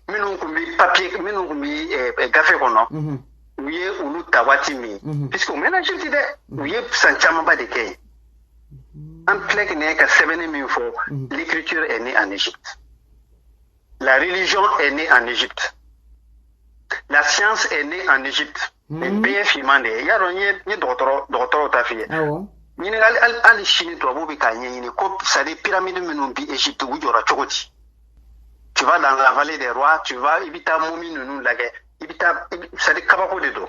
minnu tun bɛ papiye minnu tun bɛ gafe kɔnɔ u ye olu ta waati min puisque u mɛnna Égypte dɛ u ye san camanba de kɛ yen an filɛ kɛnɛ ka sɛbɛnni min fɔ l'écriture est née en Égypte La religion est née en Égypte. La science est née en Égypte. Nin hmm. bɛɛ ye finman de ye y'a dɔn n ye n ye dɔgɔtɔrɔ dɔgɔtɔrɔw ta f'i ye ɲininkali hali hali sini tubabuw bɛ k'a ɲɛɲini ko c'est à dire pyramide minnu bi Égypte u jɔra cogo di tu vas dans la vallée des rois tu vas i bɛ taa momie ninnu lajɛ i bɛ taa c'est à dire kabako de don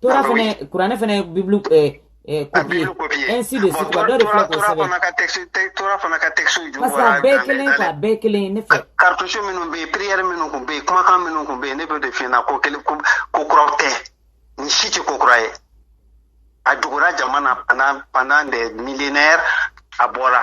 tora ah, fana kuranɛ fana ye bibulu eh, eh, ah, kopiye ainsi de suite wa dɔ de filɛ k'o sɛbɛn tora fana ka texte ju parce que a bɛɛ kelen ye a bɛɛ kelen ye ne fɛ cartouche minnu bɛ yen prière minnu tun bɛ yen kumakan minnu tun bɛ yen ne b'o de f'i ɲɛna ko kelen ko kuraw tɛ nin si tɛ ko kura ye a dugura jama na pendant pendant des millénaires a bɔra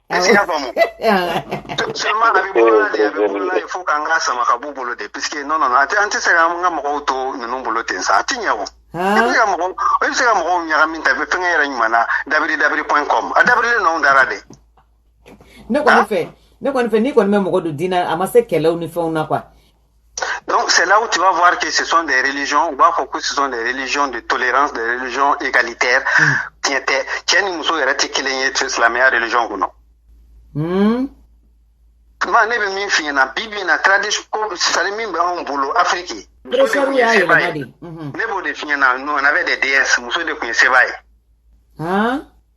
I y'a faamu seulement a bɛ bolo la de a bɛ bolo la de fo k'an ka sama ka b'u bolo de puisque non non a tɛ an tɛ se ka an ka mɔgɔw to ninnu bolo ten sa a tɛ ɲɛ o i bɛ se ka mɔgɔw i bɛ se ka mɔgɔw ɲagami ta i bɛ fɛnkɛ yɛrɛ ɲuman na dabiri dabiri point com a dabirilen n'anw dara de ne kɔni fɛ ne kɔni fɛ n'i kɔni bɛ mɔgɔ don diinɛ a ma se kɛlɛw ni fɛnw na quoi Donc c'est là où tu vas voir que ce sont des religions, ou b'a fɔ ko ce sont des religions de tolérance, des religions égalitaires. Mm. Tiɲɛ tɛ, cɛ ni muso yɛrɛ tɛ kelen ye silamɛya religion kɔnɔ. Mm. Tuma ne bɛ min f'i ɲɛna bi bi in na tradition ko sari min bɛ anw bolo Afiriki. Muso y'a yɛlɛma de. Ne b'o de f'i ɲɛna, nous on avait des déesses, muso de tun ye seba ye.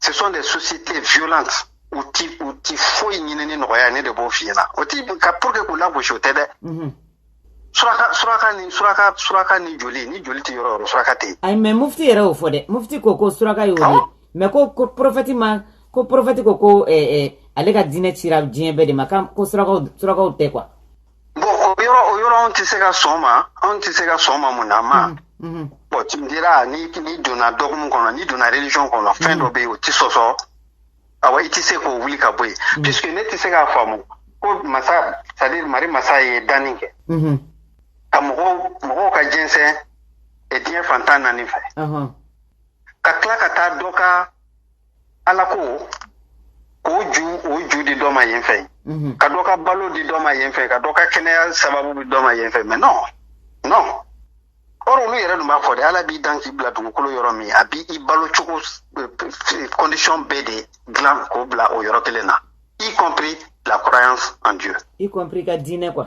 ce sont des sociétés violentes u ti u ti foyi ɲini ni nɔgɔya ne de b'o f'i ɲɛna o ti ka pour que k'u lagosi o tɛ dɛ mhm. suraka suraka ni suraka suraka ni joli ni joli tɛ yɔrɔ o yɔrɔ suraka tɛ yen ayi mais mufti yɛrɛ y'o fɔ dɛ mufti ko ko suraka y'o ye mais ko ko prophète ma ko prophète ko ko eh, eh, ale ka diinɛ cira diɲɛ bɛɛ de ma ko surakaw surakaw tɛ quoi bon o yɔrɔ o yɔrɔ anw tɛ se ka sɔn ma anw tɛ se ka sɔn ma mun na ma mm-hmm. Mm-hmm. bon tu me diras ni n'i donna dogme kɔnɔ n'i donna religion kɔnɔ fɛn mm-hmm. dɔ bɛ yen o tɛ sɔsɔ awa i tɛ se k'o wuli ka bɔ yen puisque ne tɛ se k'a faamu ko masa c'est à dire mari masa ye danni kɛ ka mɔgɔw mɔgɔw ka jɛnsɛn diɲɛ fan tan ni naani fɛ ka tila ka taa dɔ ka ala ko k'o ju o ju di dɔ ma yen fɛ mhm. ka dɔ ka balo di dɔ ma yen fɛ ka dɔ ka kɛnɛya sababu di dɔ ma yen fɛ mais non non or olu yɛrɛ dun b'a fɔ de ala b'i dan k'i bila dugukolo yɔrɔ min a b'i i balo cogo eh, condition bɛɛ de dilan k'o bila o yɔrɔ kelen na y compris la croyance en Dieu. Y compris i ka diinɛ quoi.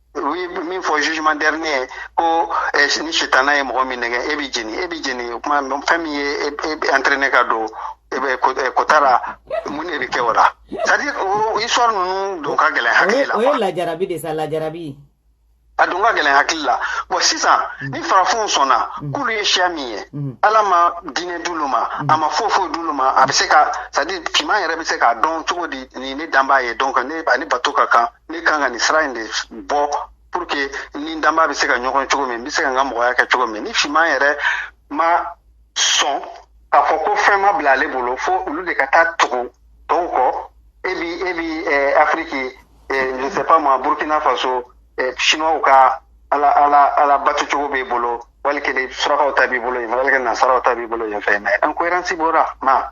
u ye min fɔ jugement dernier ko eh, ni sitana ye mɔgɔ min nɛgɛ e bɛ jeni e bɛ jeni o tuma fɛn min ye e e bɛ entraîner ka don e bɛ ko- eh, kota la mun de bɛ kɛ o la c'est à dire o histoire ninnu don ka gɛlɛn o hakili la o ye quoi. lajarabi de sa lajarabi a don ka gɛlɛn hakili la bon sisan ni farafinw sɔnna k'olu ye siya min ye Mhm. ala ma diinɛ d'olu ma a ma foyi foyi d'olu ma a bɛ se ka c'est à dire finman yɛrɛ bɛ se k'a dɔn cogo di nin ye ne danbaa ye donc ne ani bato ka kan ne kan ka nin sira in de bɔ pour que ni n danbaa bɛ se ka ɲɔgɔn cogo min n bɛ se ka n ka mɔgɔya kɛ cogo min ni finman yɛrɛ ma sɔn k'a fɔ ko fɛn ma bila ale bolo fo olu de ka taa tugu tɔw kɔ e bi e bi eh, afiriki eh, je sais pas moi burkina faso eh, chinois ka ala ala ala batu cogo b'i bolo walikele surakaw ta b'i bolo yen walikele nasaraw ta b'i bolo yen fɛ mais incohérence b'o la ma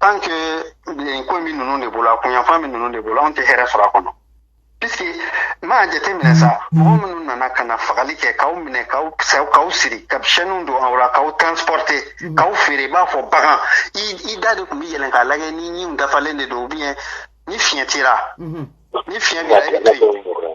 tant que nin ko min ninnu de bolo a kunyanfan min ninnu de bolo anw tɛ hɛrɛ sɔrɔ a kɔnɔ puisque m'a jateminɛ sa mɔgɔ minnu nana ka na fagali kɛ k'aw minɛ k'aw saw k'aw siri ka chaînew don aw la k'aw transporter k'aw feere i b'a fɔ bagan i i da de tun bɛ yɛlɛn k'a lajɛ ni ɲinw dafalen de don ou bien ni fiɲɛ t'i ra ni fiɲɛ b'i la i bɛ to yen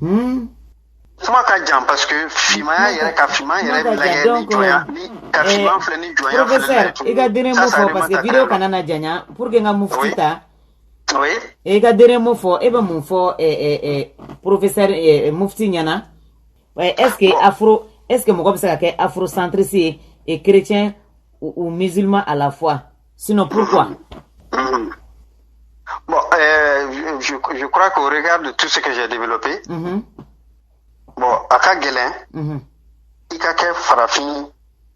Hmm? kuma ka jan parce que fimaya yɛrɛ ka fima yɛrɛ bɛ lajɛ ni jɔnya ni ka fima filɛ ni jɔnya filɛ professeur i ka dernier mot fɔ parce que video kana na janya pour que n ka mufti ta oui i ka dernier mot fɔ e bɛ mun fɔ professeur mufti ɲɛna est ce que afro est ce que mɔgɔ bɛ se ka kɛ afrocentriste ye et chrétien ou musulman à la fois Sinon, pourquoi mm-hmm. Bon, euh, je, je, crois qu'au regard de tout ce que j'ai développé, mm-hmm. bon, a ka gɛlɛn mm-hmm. i ka kɛ farafin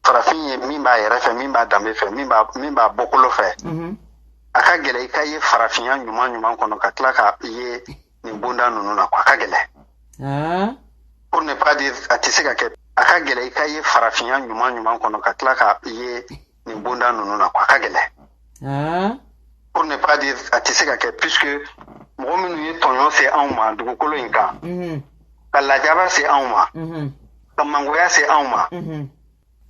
farafin ye min b'a yɛrɛ fɛ min b'a danbe fɛ min b'a min b'a bɔkolo fɛ a ka gɛlɛn i ka ye farafinya ɲuman ɲuman kɔnɔ ka tila ka ye nin bonda ninnu na a ka gɛlɛn ah. pour ne pas dire a tɛ se ka kɛ a ka gɛlɛn i ka ye farafinya ɲuman ɲuman kɔnɔ ka tila ka ye nin bonda ninnu na a ka gɛlɛn ah. pour ne pas dire a tɛ se ka kɛ puisque mɔgɔ minnu ye tɔɲɔ se anw ma dugukolo in kan mhm. ka lajaba se anw ma mhm. ka mangoya se anw ma mhm.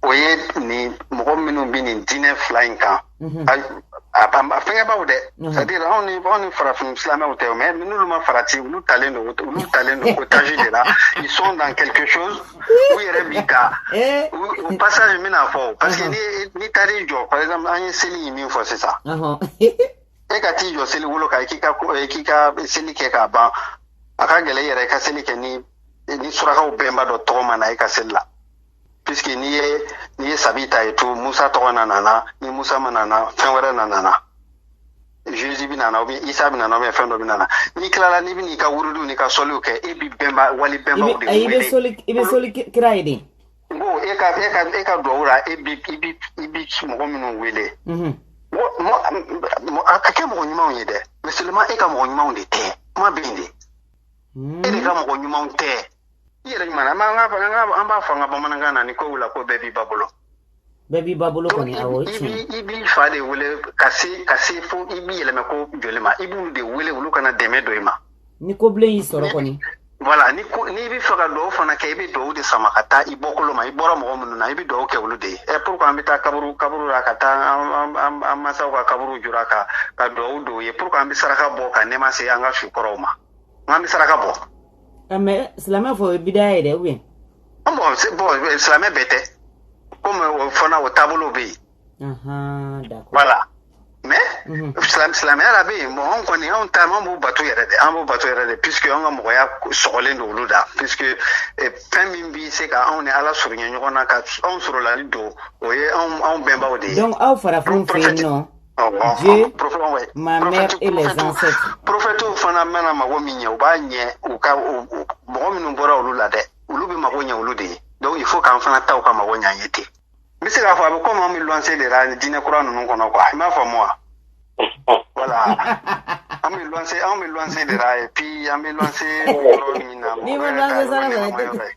o ye nin mɔgɔ minnu bɛ nin diinɛ fila in kan a fɛngɛbaw dɛ c'est à dire anw ni anw ni farafin silamɛw tɛ mais n'olu ma farati olu talen don olu talen don otage de la ils sont dans quelque chose u yɛrɛ bi ka eh. u passage min na fɔ parce que n'i taar'i jɔ par exemple an ye seli min fɔ sisan e ka t'i jɔ seli wolo kan k'i ka k'i ka seli kɛ k'a ban a ka gɛlɛn yɛrɛ i ka seli kɛ ni ni surakaw bɛnba dɔ tɔgɔ ma na i ka seli la puisque n'i ye n'i ye sabi ta et tout musa tɔgɔ na nana ni musa ma nana fɛn wɛrɛ na nana Jésus bɛna na ou bien Isa bɛna na ou bien fɛn dɔ bɛna na n'i tilala n'i bɛ n'i ka wurudiw n'i ka sɔliw kɛ e bɛ bɛnba wali bɛnbaw de wele i bɛ soli i bɛ soli kira ye de n ko e ka e ka e ka duwawu la e bɛ i bɛ i bɛ mɔgɔ minnu wele mɔgɔ a ka kɛ mɔgɔ ɲumanw ye dɛ mais seulement e ka mɔgɔ ɲumanw de tɛ kuma bɛ yen de e de ka mɔgɔ ɲumanw tɛ i yɛrɛ ɲuman an b'a fɔ an b'a fɔ an ka bamanankan na ni ko wula ko bɛɛ b'i ba bolo bɛɛ b'i ba bolo kɔni awɔ tiɲɛ i b'i fa de wele ka se ka se fo i b'i yɛlɛmɛ ko joli ma i b'u de wele olu ka na dɛmɛ don i ma ni ko bilen y'i sɔrɔ kɔni voilà ni ko n'i b'a fɛ ka dugawu fana kɛ i bɛ dugawu de sama ka taa i bɔkolo ma i bɔra mɔgɔ minnu na i bɛ dugawu kɛ olu de ye ɛ pourquoi an bɛ taa kaburu kaburu la ka taa an an an mansaw ka kaburu jura ka ka dugawu don u ye pourquoi an bɛ saraka bɔ ka nɛma se an ka su kɔrɔw ma n k'an bɛ saraka bɔ mais silamɛ fɔ o ye bidaya ye dɛ an bon c'est bon silamɛ bɛɛ tɛ komi o fana o taabolo bɛ yen voilà mais silamɛya la bɛ yen bon anw kɔni anw ta an b'u bato yɛrɛ de an b'u bato yɛrɛ de puisque an ka mɔgɔya sɔgɔlen don olu da puisque eh, fɛn min bɛ se ka anw ni ala surunya ɲɔgɔn na ka anw sɔrɔlali don o ye anw bɛnbaw de ye donc aw farafinw fɛ yen nɔ Dieu, ma mère et les ancêtres. Prophète fana mana mago min ɲɛ u b'a ɲɛ u ka mɔgɔ minnu bɔra olu la dɛ olu bɛ mago ɲɛ olu de ye donc il faut k'an fana taw ka mago ɲɛ an ye ten n bɛ se k'a fɔ a bɛ komi an bɛ luwanse de la diinɛ kura ninnu kɔnɔ quoi i m'a faamu wa voilà an bɛ luwanse an bɛ luwanse de la et puis an bɛ luwanse yɔrɔ min na. n'i ma luwanse sara sɔrɔ i tɛ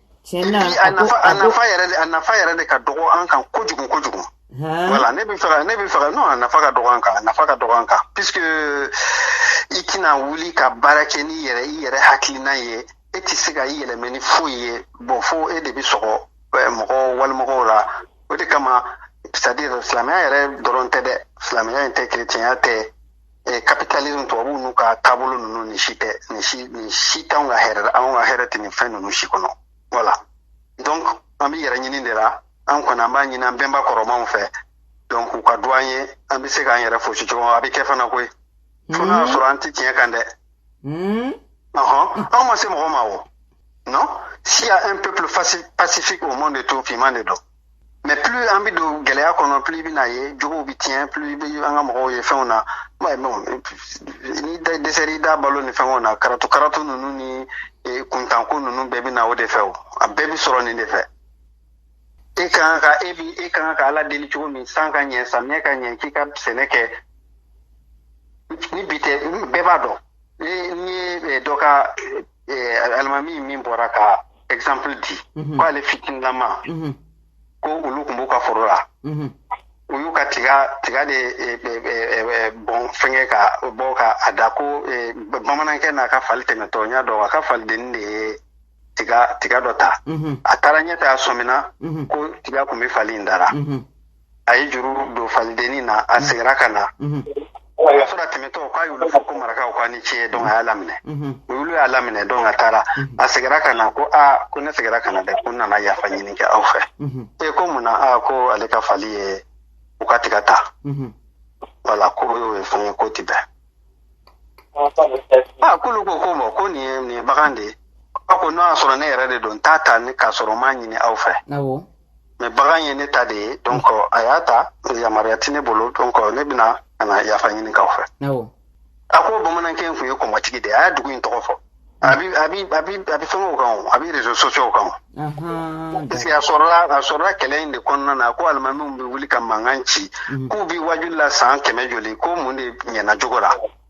tiɲɛ na a nafa a nafa yɛrɛ de a nafa yɛrɛ de ka dɔgɔ an kan kojugu kojugu voilà ne bɛ fɛ ka ne bɛ fɛ ka non a nafa ka dɔgɔ an kan a nafa ka dɔgɔ an kan puisque i tɛna wuli ka baara kɛ n'i yɛrɛ i yɛrɛ hakilina ye e tɛ se ka i yɛlɛmɛ ni foyi ye bon fo e de bɛ sɔgɔ mɔgɔ walimɔgɔw la o de kama c'est à dire silamɛya yɛrɛ dɔrɔn tɛ dɛ silamɛya in tɛ kerecɛnya tɛ capitalisme tubabuw n'u ka taabolo ninnu nin si tɛ nin si nin si t'anw ka hɛrɛ anw ka hɛrɛ tɛ nin fɛn ninnu si kɔnɔ voilà donc an bɛ yɛrɛ ɲini de la an kɔni an b'a ɲini an bɛnba kɔrɔmanw fɛ donc u ka du an ye an bɛ se k'an yɛrɛ foosi cogo a bɛ kɛ fana koyi fo n'a sɔrɔ an tɛ tiɲɛ kan dɛ ɔhɔn anw ma se mɔgɔ ma o non s'il y a un peuple pacifique au monde tout finman de don mais plus an bɛ don gɛlɛya kɔnɔ plus i bɛna ye jogow bɛ tiɲɛ plus i bɛ an ka mɔgɔw ye fɛnw na mais bon n'i dɛsɛr'i da balo ni fɛnw na karato karato ninnu ni e, kuntanko ninnu bɛɛ bɛ na o de fɛ o a bɛɛ bɛ sɔrɔ nin de fɛ e kan ka e bi e kan ka ala deli cogo min san ka ɲɛ samiyɛ ka ɲɛ k'i ka sɛnɛ kɛ ni bi tɛ bɛɛ b'a dɔn ne ye dɔ ka alimami min bɔra ka exemple di ko ale fitinilama ko olu tun b'u ka foro la u y'u ka tiga tiga de bɔn fɛngɛ ka bɔ ka a da ko bamanankɛ n'a ka fali tɛmɛtɔ n y'a dɔn a ka falidenni de ye tiga tiga dɔ ta a taara ɲɛ ta a sɔmina ko tiga tun bɛ fali in da ra a ye juru don falidenni na a mm-hmm. seginna ka na mm-hmm. a sɔrɔ a tɛmɛtɔ k'a y'olu fo ko marakaw k'a ni ce donc a y'a laminɛ mm-hmm. olu y'a laminɛ donc a taara a seginna ka na ko aa ko ne seginna ka na dɛ ko n nana yafa ɲini kɛ aw fɛ e ko mun na aa ko ale ka fali ye u ka tiga ta voilà ko o y'o ye fɛn ye k'o tɛ bɛn aa k'olu ko ko bon ko nin ye nin ye bagan de ye a ko n'o y'a sɔrɔ ne yɛrɛ de don n t'a ta k'a sɔrɔ n m'a ɲini aw fɛ mais bagan ye ne ta de ye donc a y'a ta yamaruya tɛ ne bolo donc ne bɛna ka na yafa ɲini k'aw fɛ a ko bamanankɛ in tun ye kɔmɔtigi de ye a y'a dugu in tɔgɔ fɔ a bɛ a bɛ a bɛ a bɛ fɛngɛw kan o a bɛ réseaux sociaux kan o parce que a sɔrɔla a sɔrɔla kɛlɛ in de kɔnɔna na ko alimamiw bɛ wuli ka mankan ci k'u bɛ wajuli la san kɛmɛ joli ko mun de ɲɛna jogo la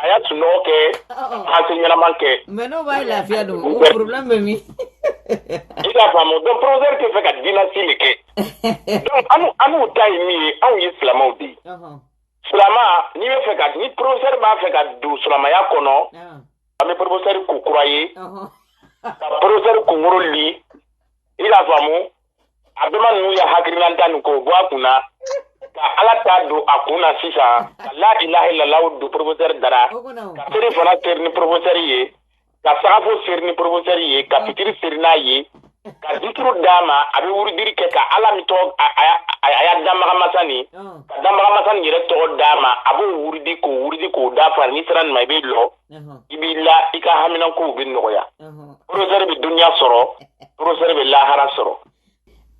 A y'a sunɔgɔ kɛ enseignement kɛ mais n'o b'a lafiya don problème bɛ min i k'a faamu donc professeur tɛ fɛ ka diinɛ si le kɛ anw ta ye min ye anw ye silamaw de ye silama n'i bɛ fɛ ka ni professeur b'a fɛ ka don silamaya kɔnɔ an bɛ professeur ko kura ye ka professeur kunkolo li i k'a faamu a bɛma ninnu ya hakililata nin k'o bɔ a kun na ka ala ta don a kun na sisan ka la ilaha illallah don professeur da ra ka seri fana seri ni professeur ye ka sagafo seri ni professeur ye ka fitiri seri n'a ye ka zikiru d'a ma a bɛ wurudiri kɛ ka ala min tɔgɔ a y'a danbagamasa nin ka danbagamasa nin yɛrɛ tɔgɔ d'a ma a b'o wurudi k'o wurudi k'o dafa n'i sera nin ma i bɛ lɔ i b'i la i ka haminankow bɛ nɔgɔya professeur bɛ dunya sɔrɔ professeur bɛ lahara sɔrɔ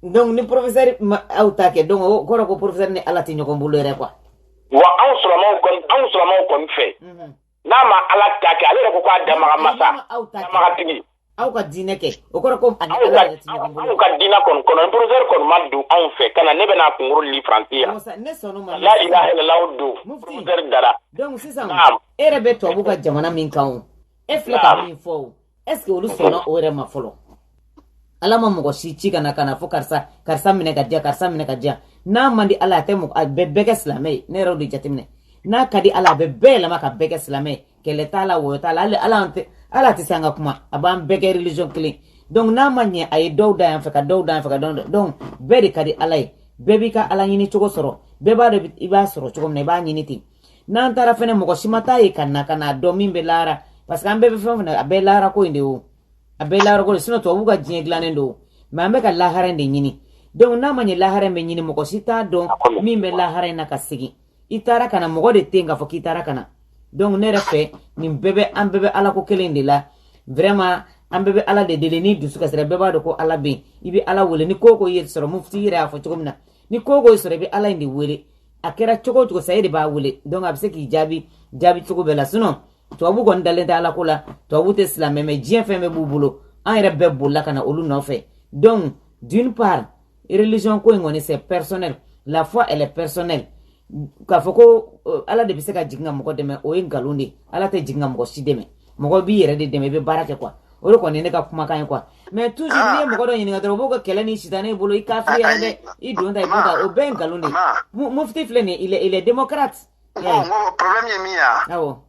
donc ni professeur ma aw ta kɛ donc o kɔrɔ ko professeur ni ala tɛ ɲɔgɔn bolo yɛrɛ quoi wa anw silamaw kɔni anw silamaw kɔni fɛ n'a ma ala ta kɛ ale yɛrɛ ko k'a danbagamasa danbagatigi aw ka diinɛ kɛ o kɔrɔ ko a ni ala yɛrɛ ti ɲɔgɔn bolo anw ka diinɛ kɔni kɔnɔ professeur kɔni ma don anw fɛ ka na ne bɛna a kunkolo li faransi yan ne sɔnna ma la ilaha illallah don professeur da ra donc sisan e yɛrɛ bɛ tubabu ka jamana min kan o e filɛ ka min fɔ o est ce que olu sɔnna o yɛrɛ ma fɔlɔ ala ma mɔgɔ si ci ka na ka n'a fɔ karisa karisa minɛ ka diya karisa minɛ ka diya n'a man di ala a tɛ mɔgɔ a bɛ bɛɛ kɛ silamɛ ye ne yɛrɛ de jateminɛ n'a ka di ala a bɛ bɛɛ yɛlɛma ka bɛɛ kɛ silamɛ ye kɛlɛ t'a la wɔyɔ t'a la hali ala tɛ ala tɛ se an ka kuma a b'an bɛɛ kɛ religion kelen donc n'a ma ɲɛ a ye dɔw da yan fɛ ka dɔw da yan fɛ ka dɔw donc bɛɛ de ka di ala ye bɛɛ b'i ka ala ɲini cogo sɔrɔ bɛɛ b'a dɔn i b'a sɔrɔ cogo min na i b'a ɲini ten n'an taara fɛnɛ mɔgɔ si ma taa yen ka na ka n'a dɔn min bɛ lahara parce que an bɛɛ bɛ fɛn o fɛn na a bɛɛ lahara ko in de o a bɛɛ lahara ko de sinon tubabuw ka diɲɛ dilannen don mais an bɛ ka lahara in de ɲini donc n'a ma ɲɛ lahara in bɛ ɲini mɔgɔ si t'a dɔn min bɛ lahara in na ka segin i taara ka na mɔgɔ de tɛ yen k'a fɔ k'i taara ka na donc ne yɛrɛ fɛ nin bɛɛ bɛ an bɛɛ bɛ ala ko kelen de la vraiment an bɛɛ bɛ ala de deli n'i dusu kasira bɛɛ b'a dɔn ko ala bɛ yen i bɛ ala wele ni ko ko y'i sɔrɔ mufti yɛrɛ y'a fɔ cogo min na ni ko ko y'i sɔrɔ i bɛ ala in de wele a kɛra cogo o cogo sa e de b'a wele donc a bɛ se k'i jaabi jaabi cogo bɛɛ la sinon tubabu kɔni dalen tɛ ala ko la tubabu tɛ silamɛ mais diɲɛ fɛn bɛɛ b'u bolo an yɛrɛ bɛɛ bolila ka na olu nɔfɛ donc d'une part religion ko in kɔni c'est personnel la foi elle est personnelle k'a fɔ ko euh, ala de bɛ se ka jigin ka mɔgɔ dɛmɛ o ye nkalon de ala tɛ jigin ka mɔgɔ si dɛmɛ mɔgɔ b'i yɛrɛ de dɛmɛ i bɛ baara kɛ quoi o de kɔni ye ne ka kumakan ye quoi mais toujours n'i ye mɔgɔ dɔ ɲininka dɔrɔn u b'o ka kɛlɛ ni sitanɛ bolo i kafiriyara dɛ i don ta i don ta o bɛɛ ye nkalon de ye mufti filɛ nin ye il est il est démocrate. n ko problème ye min ye wa. awɔ.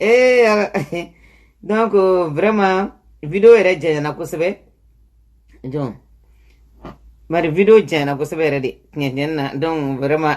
ee donc vraiment video yɛrɛ janyana kosɛbɛ donc bari video janyana kosɛbɛ yɛrɛ de tiɲɛ tiɲɛ na donc vraiment